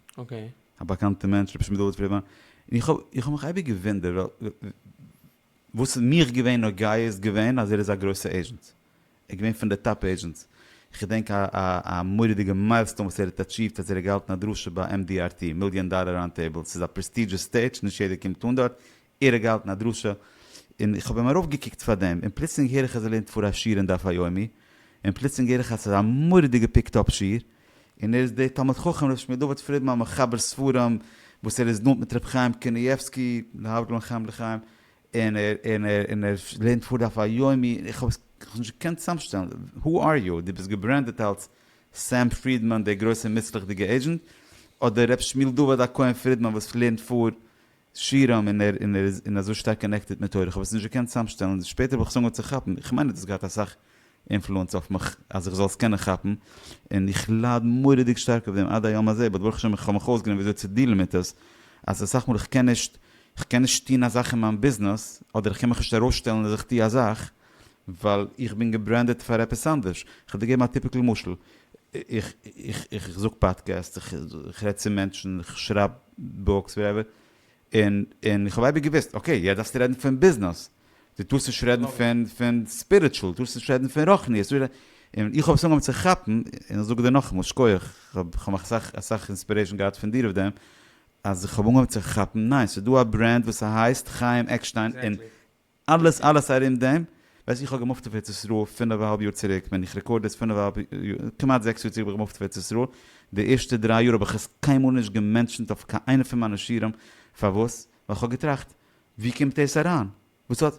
א באקאנטע מענטש ר' שמואל דוד פרידמאן און איך האב איך האב מיך אייביג געוואונדערט וואס איז מיך געווען נוגע איז געווען אז ער איז א גרויסע עידזשענט ער געווען פון די טאפ עידזשענטס איך געדענק א א א מוראדיגע מיילסטאון וואס ער האט אטשיווט אז ער האט געהאלטן א דרשה ביי MDRT מיליאן דאלער ראונד טעיבל ס'איז א פרעסטידזשעס סטעידזש נישט יעדער קומט אן דארט ער האט געהאלטן א דרשה און איך האב אים ארויפגעקוקט פאר דעם און פלוצלינג הער איך אז ער לערנט פאר א שיעור אין דף היומי און פלוצלינג הער איך אז ס'איז א מורא'דיגע פיקט אפ שיעור און ער איז דער תלמיד חכם ר' שמואל דוד פרידמאן מחבר ספרים וואס ער איז נאנט מיט ר' חיים קנייבסקי להבדיל בין חיים לחיים און ער און ער און ער לערנט פאר דף היומי און איך האב עס איך האב עס נישט געקענט צוזאמשטעלן who are you? דו ביסט געברענדעט אלס סעם פרידמאן דער גרויסער מוצלח'דיגער עידזשענט אדער ר' שמואל דוד הכהן פרידמאן וואס לערנט פאר שירעם און ער און ער איז און אזוי שטארק קאנעקטעד מיט תורה, כ'האב עס נישט געקענט צאמשטעלן, שפעטער האב איך עס אנגעהויבן צו כאפן, איך מיין ער האט עס געהאט אסאך אינפלוענס אויף מיך אז איך זאל עס קענען כאפן, און איך לייד מורא'דיג שטארק אויף דעם עד היום הזה, באט ברוך השם איך האב מיך אויסגעלערנט וויאזוי צו דילן מיט עס, אז אסאך מאל איך קען נישט איך קען נישט טון א זאך אין מיין ביזנעס, אדער איך קען מיך נישט ארויסשטעלן אז איך טו א זאך, ווייל איך בין געברענדעט פאר עפעס אנדערש. כ'וועל דיר געבן א טיפיקל משל. איך זאג פאדקעסט, איך רעד צו מענטשן, איך שרייב בוקס, וואטעווער. און איך האב אייביג געוואוסט, אקעי, יעצט דארפסטו רעדן פון ביזנעס. דו טארסט נישט רעדן פון ספיריטשול, דו טארסט נישט רעדן פון רוחניות. און איך האב עס אנגעהויבן צו כאפן, און איך זאג דיר נאכאמאל, שקויעך, כ'האב אסאך אסאך אינספירעישאן געהאט פון דיר אויף דעם, אז איך האב אנגעהויבן צו כאפן, ניין, ס'דא א ברענד וואס ס'הייסט חיים עקשטיין, און אלעס אלעס ארום דעם, ווייסט איך האב געמופט אויף ארץ ישראל פינעף אהאלב יאר צוריק, ווען איך רעקארד דאס פינעף אהאלב יאר, כמעט זעקס יאר צוריק בין איך געמופט אויף ארץ ישראל, די ערשטע דריי יאר האב איך עס קיינמאל נישט געמענטשענט אויף קיין איינע פון מיינע שיעורים, פארוואס? ווייל איך האב געטראכט ווי קומט דאס אריין? וואס האט,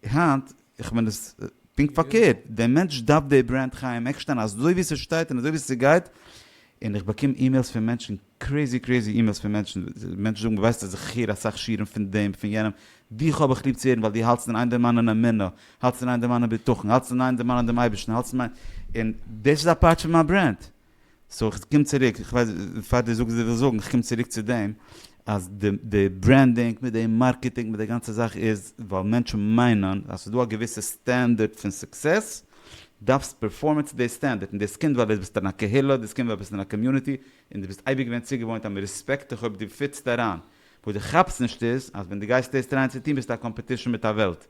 היינט איך בין עס פונקט פארקערט, דער מענטש דארף די ברענד חיים עקשטיין אזוי ווי ס'שטייט און אזוי ווי ס'גייט, און איך באקום אימעילס פון מענטשן קרעזי קרעזי אימעילס פון מענטשן, מענטשן זאגן ווייסטע זיך איך הער אסאך שיעורים פון דעם פון יענעם, דיך האב איך ליב צו הערן ווייל דו האלטסט אין איין דערמאנען אמונה, האלטסט אין איין דערמאנען בטחון, האלטסט אין איין דערמאנען דעם אייבערשטן, האלטסט אין איין, און דאס איז א פארט פון מיין ברענד. סאו איך קום צוריק, איך ווייס פאר דו זאגסט וואס דו ווילסט זאגן, איך קום צוריק צו דעם אז די ברענדינג מיט די מארקעטינג מיט די גאנצע זאך איז ווייל מענטשן מיינען אז ס'איז דא א געוויסע סטענדערט פון סוקסעס, דארפסט פערפארמען צו די סטענדערט, און דאס קומט ווייל דו ביסט אין א קהילה, דאס קומט ווייל דו ביסט אין א קאמיוניטי, און דו ביסט אייביג געווען צוגעוואוינט אז מען רעספעקט דיך אויב דו פיטסט אריין. וואס דו כאפסט נישט איז אז ווען דו גייסט דאס טרייען צו טון ביסטו א קאמפעטישן מיט א וועלט.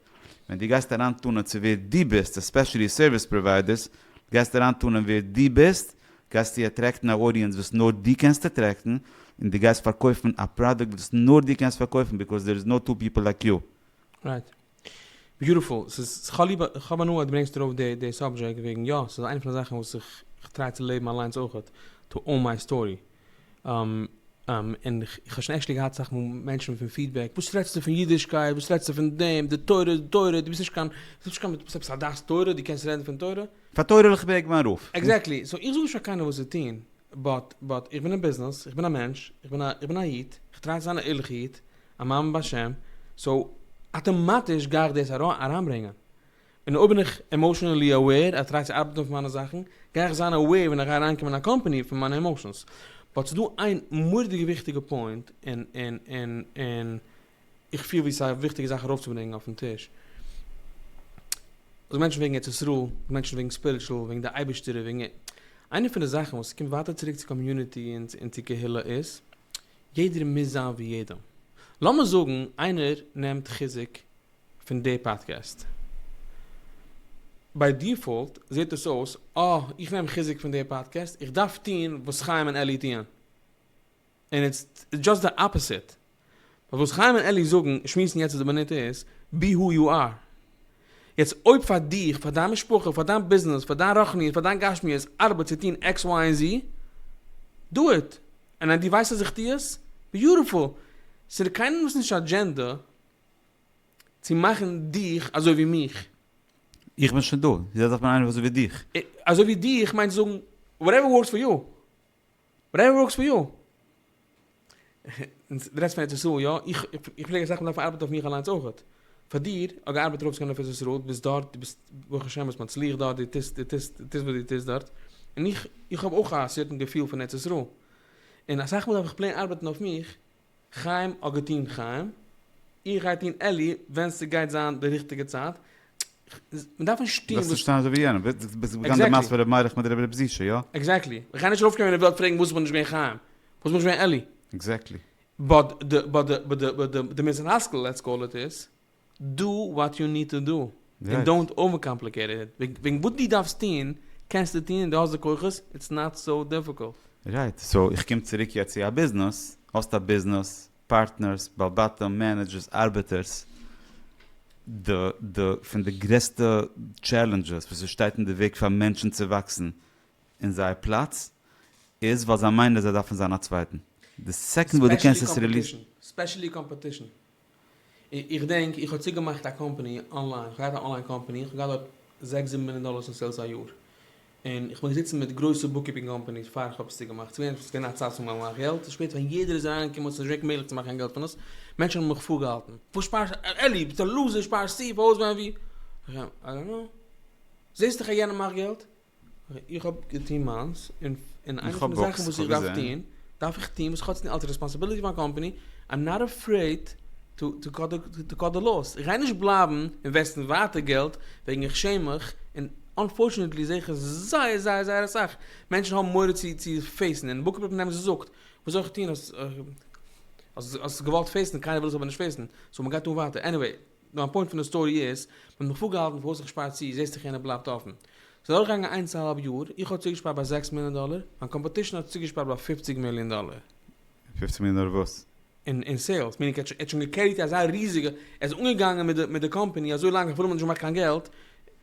ווען דו גייסט אריין טענה'ן צו ווער דו ביסט, עספעשעלי סערוויס פראוויידערס, גייסט אריין טענה'ן ווער דו ביסט, גייסטו אטרעקטן א אודיענס וואס נאר דו קענסט אטרעקטן, און דו גייסט פארקויפן א פראדוקט וואס נאר דו קענסט פארקויפן ביקאוז דער איז נאו טו פיפל לייק יו. רייט. ביוטיפול, ס'איז, כ'האב ליב, כ'האב הנאה אז דו ברענגסט ארויף די די סאבדזשעקט, וועגן יא, ס'איז איינע פון די זאכן וואס איך כ'טריי צו לעבן אליינס אויכעט, טו אן מיי סטארי. און כ'האב שוין עקשעלי געהאט אסאך מאל מענטשן פון פידבעק, וואס רעדסטו פון אידישקייט, וואס רעדסטו פון דעם, די תורה איז תורה, דו ביסט נישט קיין, דו ביסט נישט קיין, עפעס א דעת תורה, דו קענסט רעדן פון תורה? פאר תורה וועל איך בעק מיין רוף. עקזעקטלי, סאו איך זאג נישט פאר קיינעם וואס צו טון, באט, באט, איך בין אין ביזנעס, איך בין א מענטש, איך בין א, איך בין א איד, כ'טריי צו זיין א ערליכע איד, א מאמין בשם, סאו אטאמאטיש גיי איך דאס אריינברענגען. און אויב בין איך עמאושענעלי אוועיר, איך טריי צו ארבעטן אויף מיינע זאכן, גיי איך זיין אוועיר ווען איך גיי אריינקומען אין א קאמפאני פון מיינע עמאושענס. באט ס'איז דא איין מורא'דיגע וויכטיגע פוינט, און און און און איך פיל ווי ס'איז א וויכטיגע זאך ארויפצוברענגען אויפן טיש. אויב מענטשן וועגן ארץ ישראל, אויב מענטשן וועגן ספיריטשול, וועגן די אייבישטער, וועגן איינע פון די זאכן וואס ס'קומט ווייטער צוריק צו קאמיוניטי און צו קהילה איז, יעדער מוז זיין ווי יעדעם. לאמיר זאגן איינער נעמט חיזוק פון די פאדקעסט. ביי דיפאלט זעט דאס אויס, אה, איך נעם חיזוק פון די פאדקעסט, איך דארף טון וואס חיים און אלי טוען. און איטס דזשאסט די אפאסיט. ווייל וואס חיים און אלי זאגן, שמועסן יעצט אט די מינוט איז, בי הו יו אר. יעצט אויב פאר דיך, פאר דיין משפחה, פאר דיין ביזנעס, פאר דיין רחניות, פאר דיין גשמיות, ארבעט צו טון עקס וויי און זי, דא איט, און אז דו ווייסט אז איך טו עס, ביוטיפול, ס'איז קיינעמס נישט אדזשענדע צו מאכן דיך אזוי ווי מיך. איך בין שוין דא, יעצט דארף מען איינער אזוי ווי דיך. אזוי ווי דיך מיינט זאגן וואטעווער ווארקס פאר יו. וואטעווער ווארקס פאר יו. און די רעדסט פון ארץ ישראל יא, איך פלעג אסאך מאל דארפן ארבעטן אויף מיך אליינס אויכעט. פאר דיר, האט געארבעט רוב זמן אויף ארץ ישראל, דו ביסט דארט, דו ביסט ברוך השם ביסט מצליח דארט, דו טוסט, דו טוסט, דו טוסט וואס דו טוסט דארט. און איך, איך האב אויך א סערטען געפיל פון ארץ ישראל. און אסאך מאל דארף איך פלעין ארבעטן אויף מיך. חיים האט געטון חיים, איך גיי טון עלי ווען ס'גייט זיין די ריכטיגע צייט, מ'דארף נישט טון וואס. זאלסט נישט טון אזוי ווי יענעם, ביסט באגאנט די מעשה פון ר' מאיר'לעך מיט ר' זישע, יא? עקזעקטלי, איך גיי נישט ארויפקומען אין וועלט פרעגן וואס בין איך געווען חיים, וואס בין איך געווען עלי. עקזעקטלי. באט די די די די די מוסר השכל לעטס קאל איט איז. דא וואט יו ניד טו דא, און דאונט אווער קאמפליקעיט איט, וועגן וואס דו דארפסט טון, קענסטו טון און דו האסט די כוחות, איטס נאט סאו דיפיקולט. רייט, סאו איך קום צוריק יעצט צו א ביזנעס, האסט א ביזנעס, פארטנערס, בעל בתים, מענעדזשערס, ארבעטערס, די די פון די גרעסטע טשעלענדזשעס וואס עס שטייט אין די וועג פאר מענטשן צו וואקסן אין זייער פלאץ, איז ווייל זיי מיינען אז זיי דארפן זיין א צווייטן, די סעקאנד וואס דו קענסט עס ריליעסן. ספעשעלי קאמפעטישן. איך דענק איך האב צוגעמאכט א קאמפעני אנליין, איך האב געהאט א אנליין קאמפעני, איך האב געהאט דארט זעקס זיבן מיליאן דאללערס אין סעילס א יאר, און איך בין געזיצן מיט גרויסע בוקקיפינג קאמפעניס פאר איך האב עס צוגעמאכט, ס'איז געווען ס'געווען א צייט וואס מ'מאכט געלט, ס'איז שפעטער ווען יעדער איז אריינגעקומען האט עס נישט געווען מעגליך צו מאכן קיין געלט פון עס, מענטשן האבן מיך פארגעהאלטן, וואס שפארסט אלי ביסט א לוזער שפארסט צו פארוואס ווען ווי, איך זאג זיי נו זעסט דאך אז יענער מאכט געלט, איך האב געטון מיינס, און איינע פון די זאכן וואס איך דארף טון, דארף איך טון, וואס כאטש אלס רעספאנסיביליטי פון מיין קאמפאני, איים נאט עפרעיד טו טו קאט די קאט די לאוס, איך גיי נישט בלייבן אינוועסטן ווייטער געלט וועגן איך שעם מיך, און אנפארטשענעטלי זעה איך עס זייער זייער זייער אסאך מענטשן האבן מורא צו צו פעיסן, און וואס קומט נעבן זיי זאגט, וואס זאל איך טון, האסט געוואלט פעיסן, קיינער וויל עס אבער נישט פעיסן, סאו מען גייט אן ווייטער, עניוועי. מיין פוינט פון די סטארי איז, מען האט מיך פארגעהאלטן פארוואס איך שפאר צו, זעסט איך יענער בלייבט אפן. ס'איז אדורכגעגאנגען איינס א האלב יאר, איך האב צוגעשפארט ביי זעקס מיליאן דאלער, מיין קאמפאטישן האט צוגעשפארט ביי פופציג מיליאן דאלער. פופציג מיליאן דאלער וואס? אין סעילס, מיענינג ער האט שוין געקעריט אזא ריזיגע, ער איז אנגעגאנגען מיט די קאמפעני אזוי לאנג אפילו מען האט נישט געמאכט קיין געלט,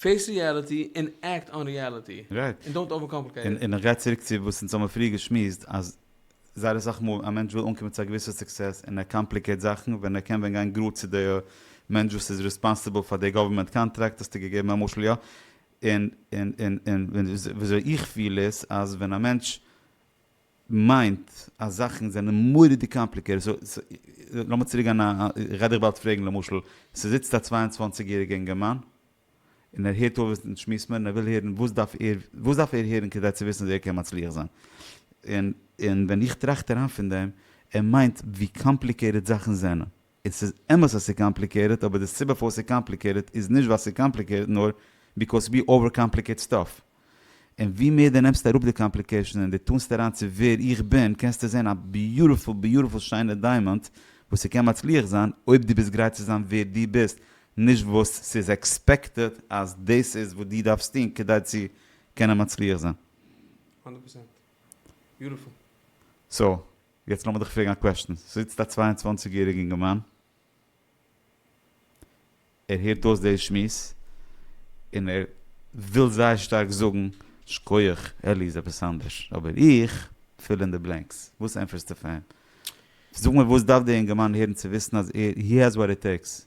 פעיס ריעליטי און עקט אן ריעליטי. רייט. און דאונט אווער קאמפליקעיט איט. און איך גיי צוריק צו וואס אונז האמער פריער געשמועסט אז זייער אסאך מאל א מענטש וויל אנקומען צו א געוויסע סוקסעס און ער קאמפליקעיט זאכן ווען ער קען ווען גיין גראד צו די מענטש וואס איז ריספאנסיבל פאר די גאווערמענט קאנטראקט האסטו געגעבן א משל יא? און און און און וויאזוי איך פיל איז אז ווען א מענטש. מיינט אז זאכן זענען מורא'דיג קאמפליקעטעד, סאו לאמיר צוריק גיין א, איך גיי דיך באלד פרעגן למשל, ס'זיצט א צוויי און צוואַנציק יעריגע אינגערמאן, און ער הערט אויף וואס אונז שמועסט מיר, און ער וויל הערן וואס דארף ער, וואס דארף ער הערן כדי צו וויסן אז ער קען מצליח זיין, און ווען איך טראכט אריין פון דעם, ער מיינט ווי קאמפליקעטעד זאכן זענען. און ס'איז אמת אז ס'איז קאמפליקעיטעד אבער די סיבה פארוואס ס'איז קאמפליקעיטעד איז נישט ווייל ס'איז קאמפליקעיטעד נאר ביקאויז ווי אווער קאמפליקעיט סטאף און ווי מער די נעמסט אראפ די קאמפליקעישן און די טאנסט אריין צו ווער איך בין קענסטו זעהן א ביוטעפול ביוטעפול שיינע דיימאנט וואס ס'קען מצליח זיין אויב די ביסט גרייט צו זיין ווער די ביסט נישט וואס ס'איז עקספעקטעד אז דאס איז וואס די דארפסט טון כדי צו קענען מצליח זיין. הונדערט פראצענט. ביוטעפול. סאו יעצט לאמיר דיך פרעגן א קוועשטן, ס'זיצט א צוויי און צוואַנציק יעריג אינגערמאן, ער הערט אויס די שמועס, און ער וויל זייער שטארק זאגן, שקויעך, אלי איז עפעס אנדערש, אבער איך, פיל אין די בלענקס, וואס ענטפערסטו פאר אים? זאג מיר וואס דארף דער אינגערמאן הערן צו וויסן אז ער, הי העז וואט איט טעיקס?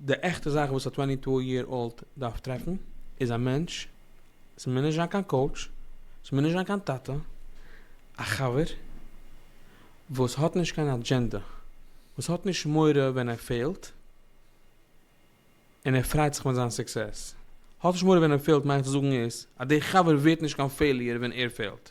די עכטע זאך וואס א טווענטי טו יער אולד דארף טרעפן איז א מענטש, עס מוז נישט זיין קיין קאוטש, עס מוז נישט זיין קיין טאטע, א חבר וואס האט נישט קיין אדזשענדע, וואס האט נישט מורא ווען ער פעלט, און ער פריידט זיך מיט זיין סוקסעס. האט נישט מורא ווען ער פעלט מיינט צו זאגן איז אז דער חבר ווערט נישט קיין פעיליער ווען ער פעלט.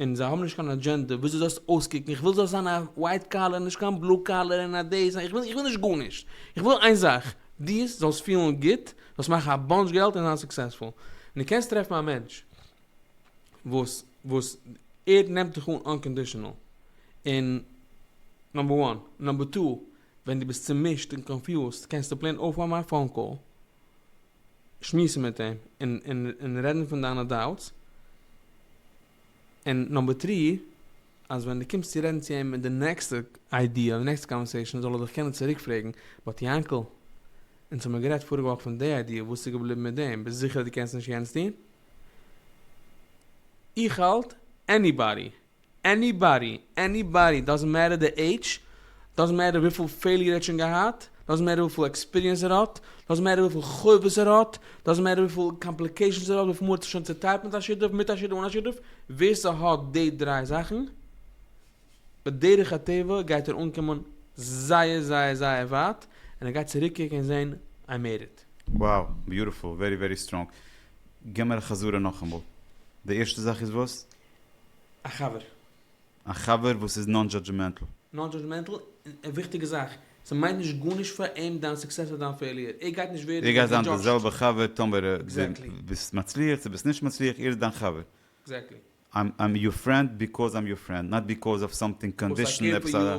און זיי האבן נישט קיין אדזשענדע וויאזוי זאלסט אויסקוקן, איך וויל זאלסט זיין א ווייט קאלער נישט קיין בלו קאלער און א דעיס, איך וויל נישט גארנישט, איך וויל איין זאך, דו זאלסט פילן גוט, זאלסט מאכן א באנטש געלט און זיין סוקסעספול, און דו קענסט טרעפן א מענטש וואס וואס ער נעמט דיך אן אנקאנדישאנעל, און נאמבער וואן, נאמבער טו, ווען דו ביסט צומישט און קאנפיוזט קענסטו פלעין אויפהייבן א פאון קאל. שמועסן מיט אים און און און רעדן פון דיינע דאוטס, און נאמבער טרי אז ווען דו קומסט צו רעדן צו אים מיט די נעקסטע איידיע אדער נעקסטע קאנווערסעישאן זאל ער דיך קענען צוריק פרעגן, באט יאנקל, אונז האמיר גערעדט פאריגע וואך פון די איידיע, וואס איז געבליבן מיט דעם? ביסט זיכער אז דו קענסט נישט יענץ טון? איך האלט, עניבאדי! עניבאדי? עניבאדי? דאזענט מעטער די עידזש? דאזענט מעטער וויפיל פעיליער ער האט שוין געהאט? דאזענט מעטער וויפיל עקספיריענס ער האט? דאזענט מעטער וויפיל חובות ער האט? דאזענט מעטער וויפיל קאמפליקעישאנס ער האט? וויפיל מאל האט ער שוין צוטיילט מיט א שותף? מיט א שותף? אן א שותף? ווער ס'האט די דריי זאכן, בדרך הטבע גייט ער אנקומען זייער זייער זייער ווייט, און ער גייט צוריקקוקן און זען איי מעיד איט. Wow, ביוטיפול, ווערי ווערי סטראנג. גיב מיר א חזרה נאכאמאל. די ערשטע זאך איז וואס? א חבר. א חבר וואס איז נאן דזשאדזשמענטל. נאן דזשאדזשמענטל, און א וויכטיגע זאך, ס'מיינט נישט גארנישט פאר אים דיין סוקסעס אדער דיין פעיליער, ער גייט נישט ווערן געדזשאדזשט. ער גייט זיין די זעלבע חבר טאמער דו ביסט מצליח צו ביסט נישט מצליח, ער איז דיין חבר. עקזעקטלי. איים יור פרענד ביקאוז איים יור פרענד, נאט ביקאוז אוו סאמטינג קאנדישאן, עפעס א.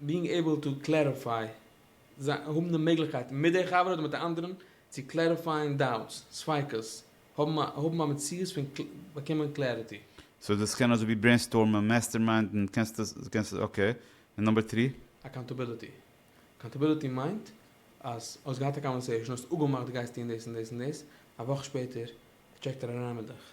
בינג עיבל טו קלעריפיי, האבן די מעגליכקייט מיט דער חבר אדער מיט א אנדערן צו קלעריפייען דאוטס, ספיקות, האבן א מציאות פון באקומען קלעריטי. סאו דאס קען אזוי ווי ברעינסטארמען, מעסטערמיינדן, קענסט עס, קענסט עס, אקעי, און נאמבער טרי? אקאונטעביליטי, אקאונטעביליטי מיינט אז האסט געהאט א קאנווערסעישאן, האסט אפגעמאכט דו גייסט טון דאס און דאס און דאס, א וואך שפעטער טשעקט ער אריין מיט דיך.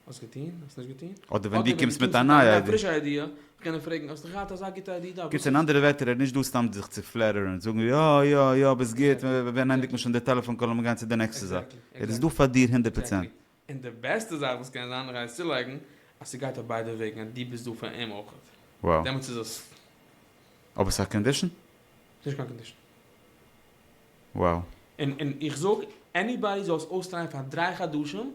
האסט געטון? האסט נישט געטון? אדער ווען דו קומסט מיט א נייע איידיע. פרישע איידיע, זאל קענען פרעגן, האסט געהאט אזא גוטע איידיע דא? קיצור אין אנדערע ווערטער ער איז נישט דא סתם זיך צו פלעטערן, זאגן יא יא יא ביסט גוט, ווען ענדיגט מען שוין די טעלעפאן קאל און מיר גייען צו די נעקסטע זאך, ער איז דא פאר דיר הונדערט פראצענט. און די בעסטע זאך וואס קען זיין, רייסט צולייגן אז ס'גייט אויף ביידע וועגן, אז דו ביסט דא פאר אים אויך, דעמאלטס איז עס. אבער ס'איז א קאנדישן? ס'איז נישט קיין קאנדישן. Wow. און איך זאג עניבאדי זאל עס אויסטרייען פאר דריי חדשים,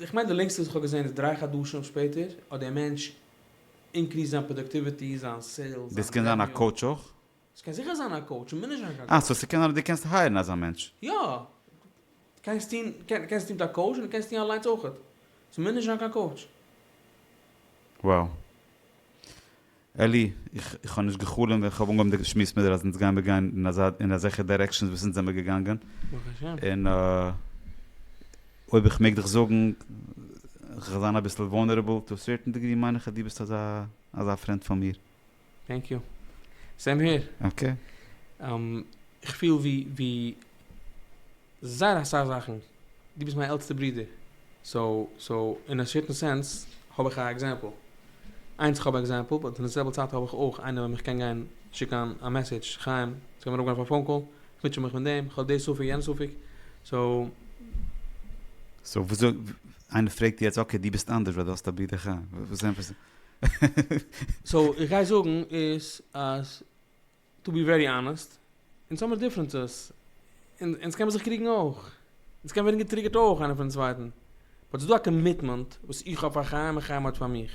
איך מיין די לענגסטע וואס איך האב געזען איז דרײַ חדשים שפעטער האט דער מענטש אינקריסט זיין פראדוקטיוויטי, זיין סעילס, דאס זיין קען זיין א רעוועניו. קאוטש אויך? ס'קען זיכער זיין א קאוטש, מ'מוז נישט זיין קיין אה, סאו קאוטש. ס'קען זיין אז דו קענסט הייערן אזא מענטש? יא. קענסט טון, קען, קענסט טון מיט א קאוטש און דו קענסט טון אליינס אויכעט. ס'מוז נישט זיין קיין קאוטש. וואו? אלי, איך האב נישט גע'חלומ'ט ווען איך האב אנגעהויבן די שמועס מיט דיר אז אונז גיימיר גיין אין אזעלכע דירעקשאנס וואס אונז זעמיר געגאנגען. ברוך השם. און אויב איך מעג דיך זאגן, איך וועל זיין אביסל וואלנערעבל, טו א סערטען דעגרי מיין איך אז דו ביסט אזא אזא פרענד פון מיר. טענק יו. סעים העיר. אקעי. איך פיל ווי ווי. זייער אסאך זאכן, דו ביסט מיין עלטסטע ברודער, סאו סאו אין א סערטען סענס האב איך א עקזעמפל, איינס איך האב עקזעמפל, באט אין די זעלבע צייט האב איך אויך איינער וועם איך קען גיין שיקן א מעסעדזש, חיים, ס'קען מען אראפגיין אויף א פאון קאל, איך מוטשע מיך מיט דעם, איך האב די ספק יענע ספק, סאו. סאו וויאזוי, איינער פרעגט יעצט אקעי דו ביסט אנדערש ווייל דו האסט א ברודער חיים, וואס ענטפערסטו? סאו איך גיי זאגן איז אז טו בי ווערי אנעסט, אונז האמיר דיפרענסעס, און אונז קען מען זיך קריגן אויך, אונז קען ווערן געטריגערט אויך איינער פונעם צווייטן, באט ס'איז דא א קאמיטמענט וואס איך האב פאר חיים און חיים האט פאר מיך.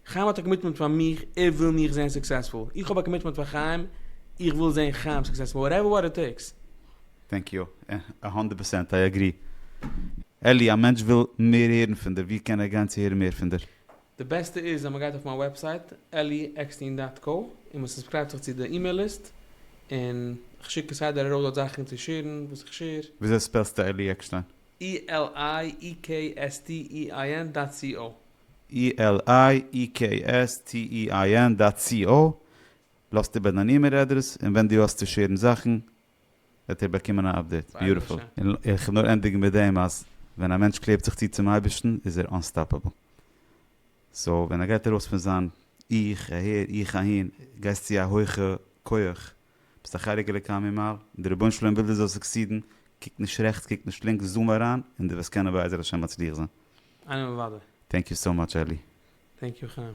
חיים האט א קאמיטמענט פאר מיך, ער וויל מיך זען סוקסעספול. איך האב א קאמיטמענט פאר חיים, איך וויל זען חיים סוקסעספול, וואטעווער וואט איט טעיקס. טענק יו, א הונדערט פערסענט איי אגרי. אלי, א מענטש וויל מער הערן פון דיר, ווי קען ער גיין צו הערן מער פון דיר? די בעסטע איז אז מען גייט אויף מיין וועבסייט אלי עקסטין דאט קא און מען סובסקרייבט זיך צו די אימעיל ליסט און כ'שיק כסדר ארויס דארט זאכן צו שעירן וואס איך שעיר. וויאזוי ספעלסטו אלי עקשטיין? ELIEKSTEIN דאט סי או. ELIEKSTEIN דאט סי או. לאזט איבער דיין אימעיל אדרעס און ווען דו האסט צו שעירן זאכן וועט איר באקומען א אפדעיט. ביוטיפול. און איך וועל נאר ענדיגן מיט דעם אז ווען א מענטש קלעבט זיך צו צום אייבערשטן איז ער אנסטאפעבל. סאו ווען ער גייט ארויס פון זיין איך אהער איך אהין, גייסט צו א הויכע כח, ביסט א חלק אלוקי ממעל, און די רבונו של עולם וויל דו זאלסט סוקסידן, קוק נישט רעכטס קוק נישט לינקס זום אריין און דו וועסט קענען בעזר השם מצליח זיין. אמן וואדער. טענק יו סאו מאטש אלי. טענק יו חיים.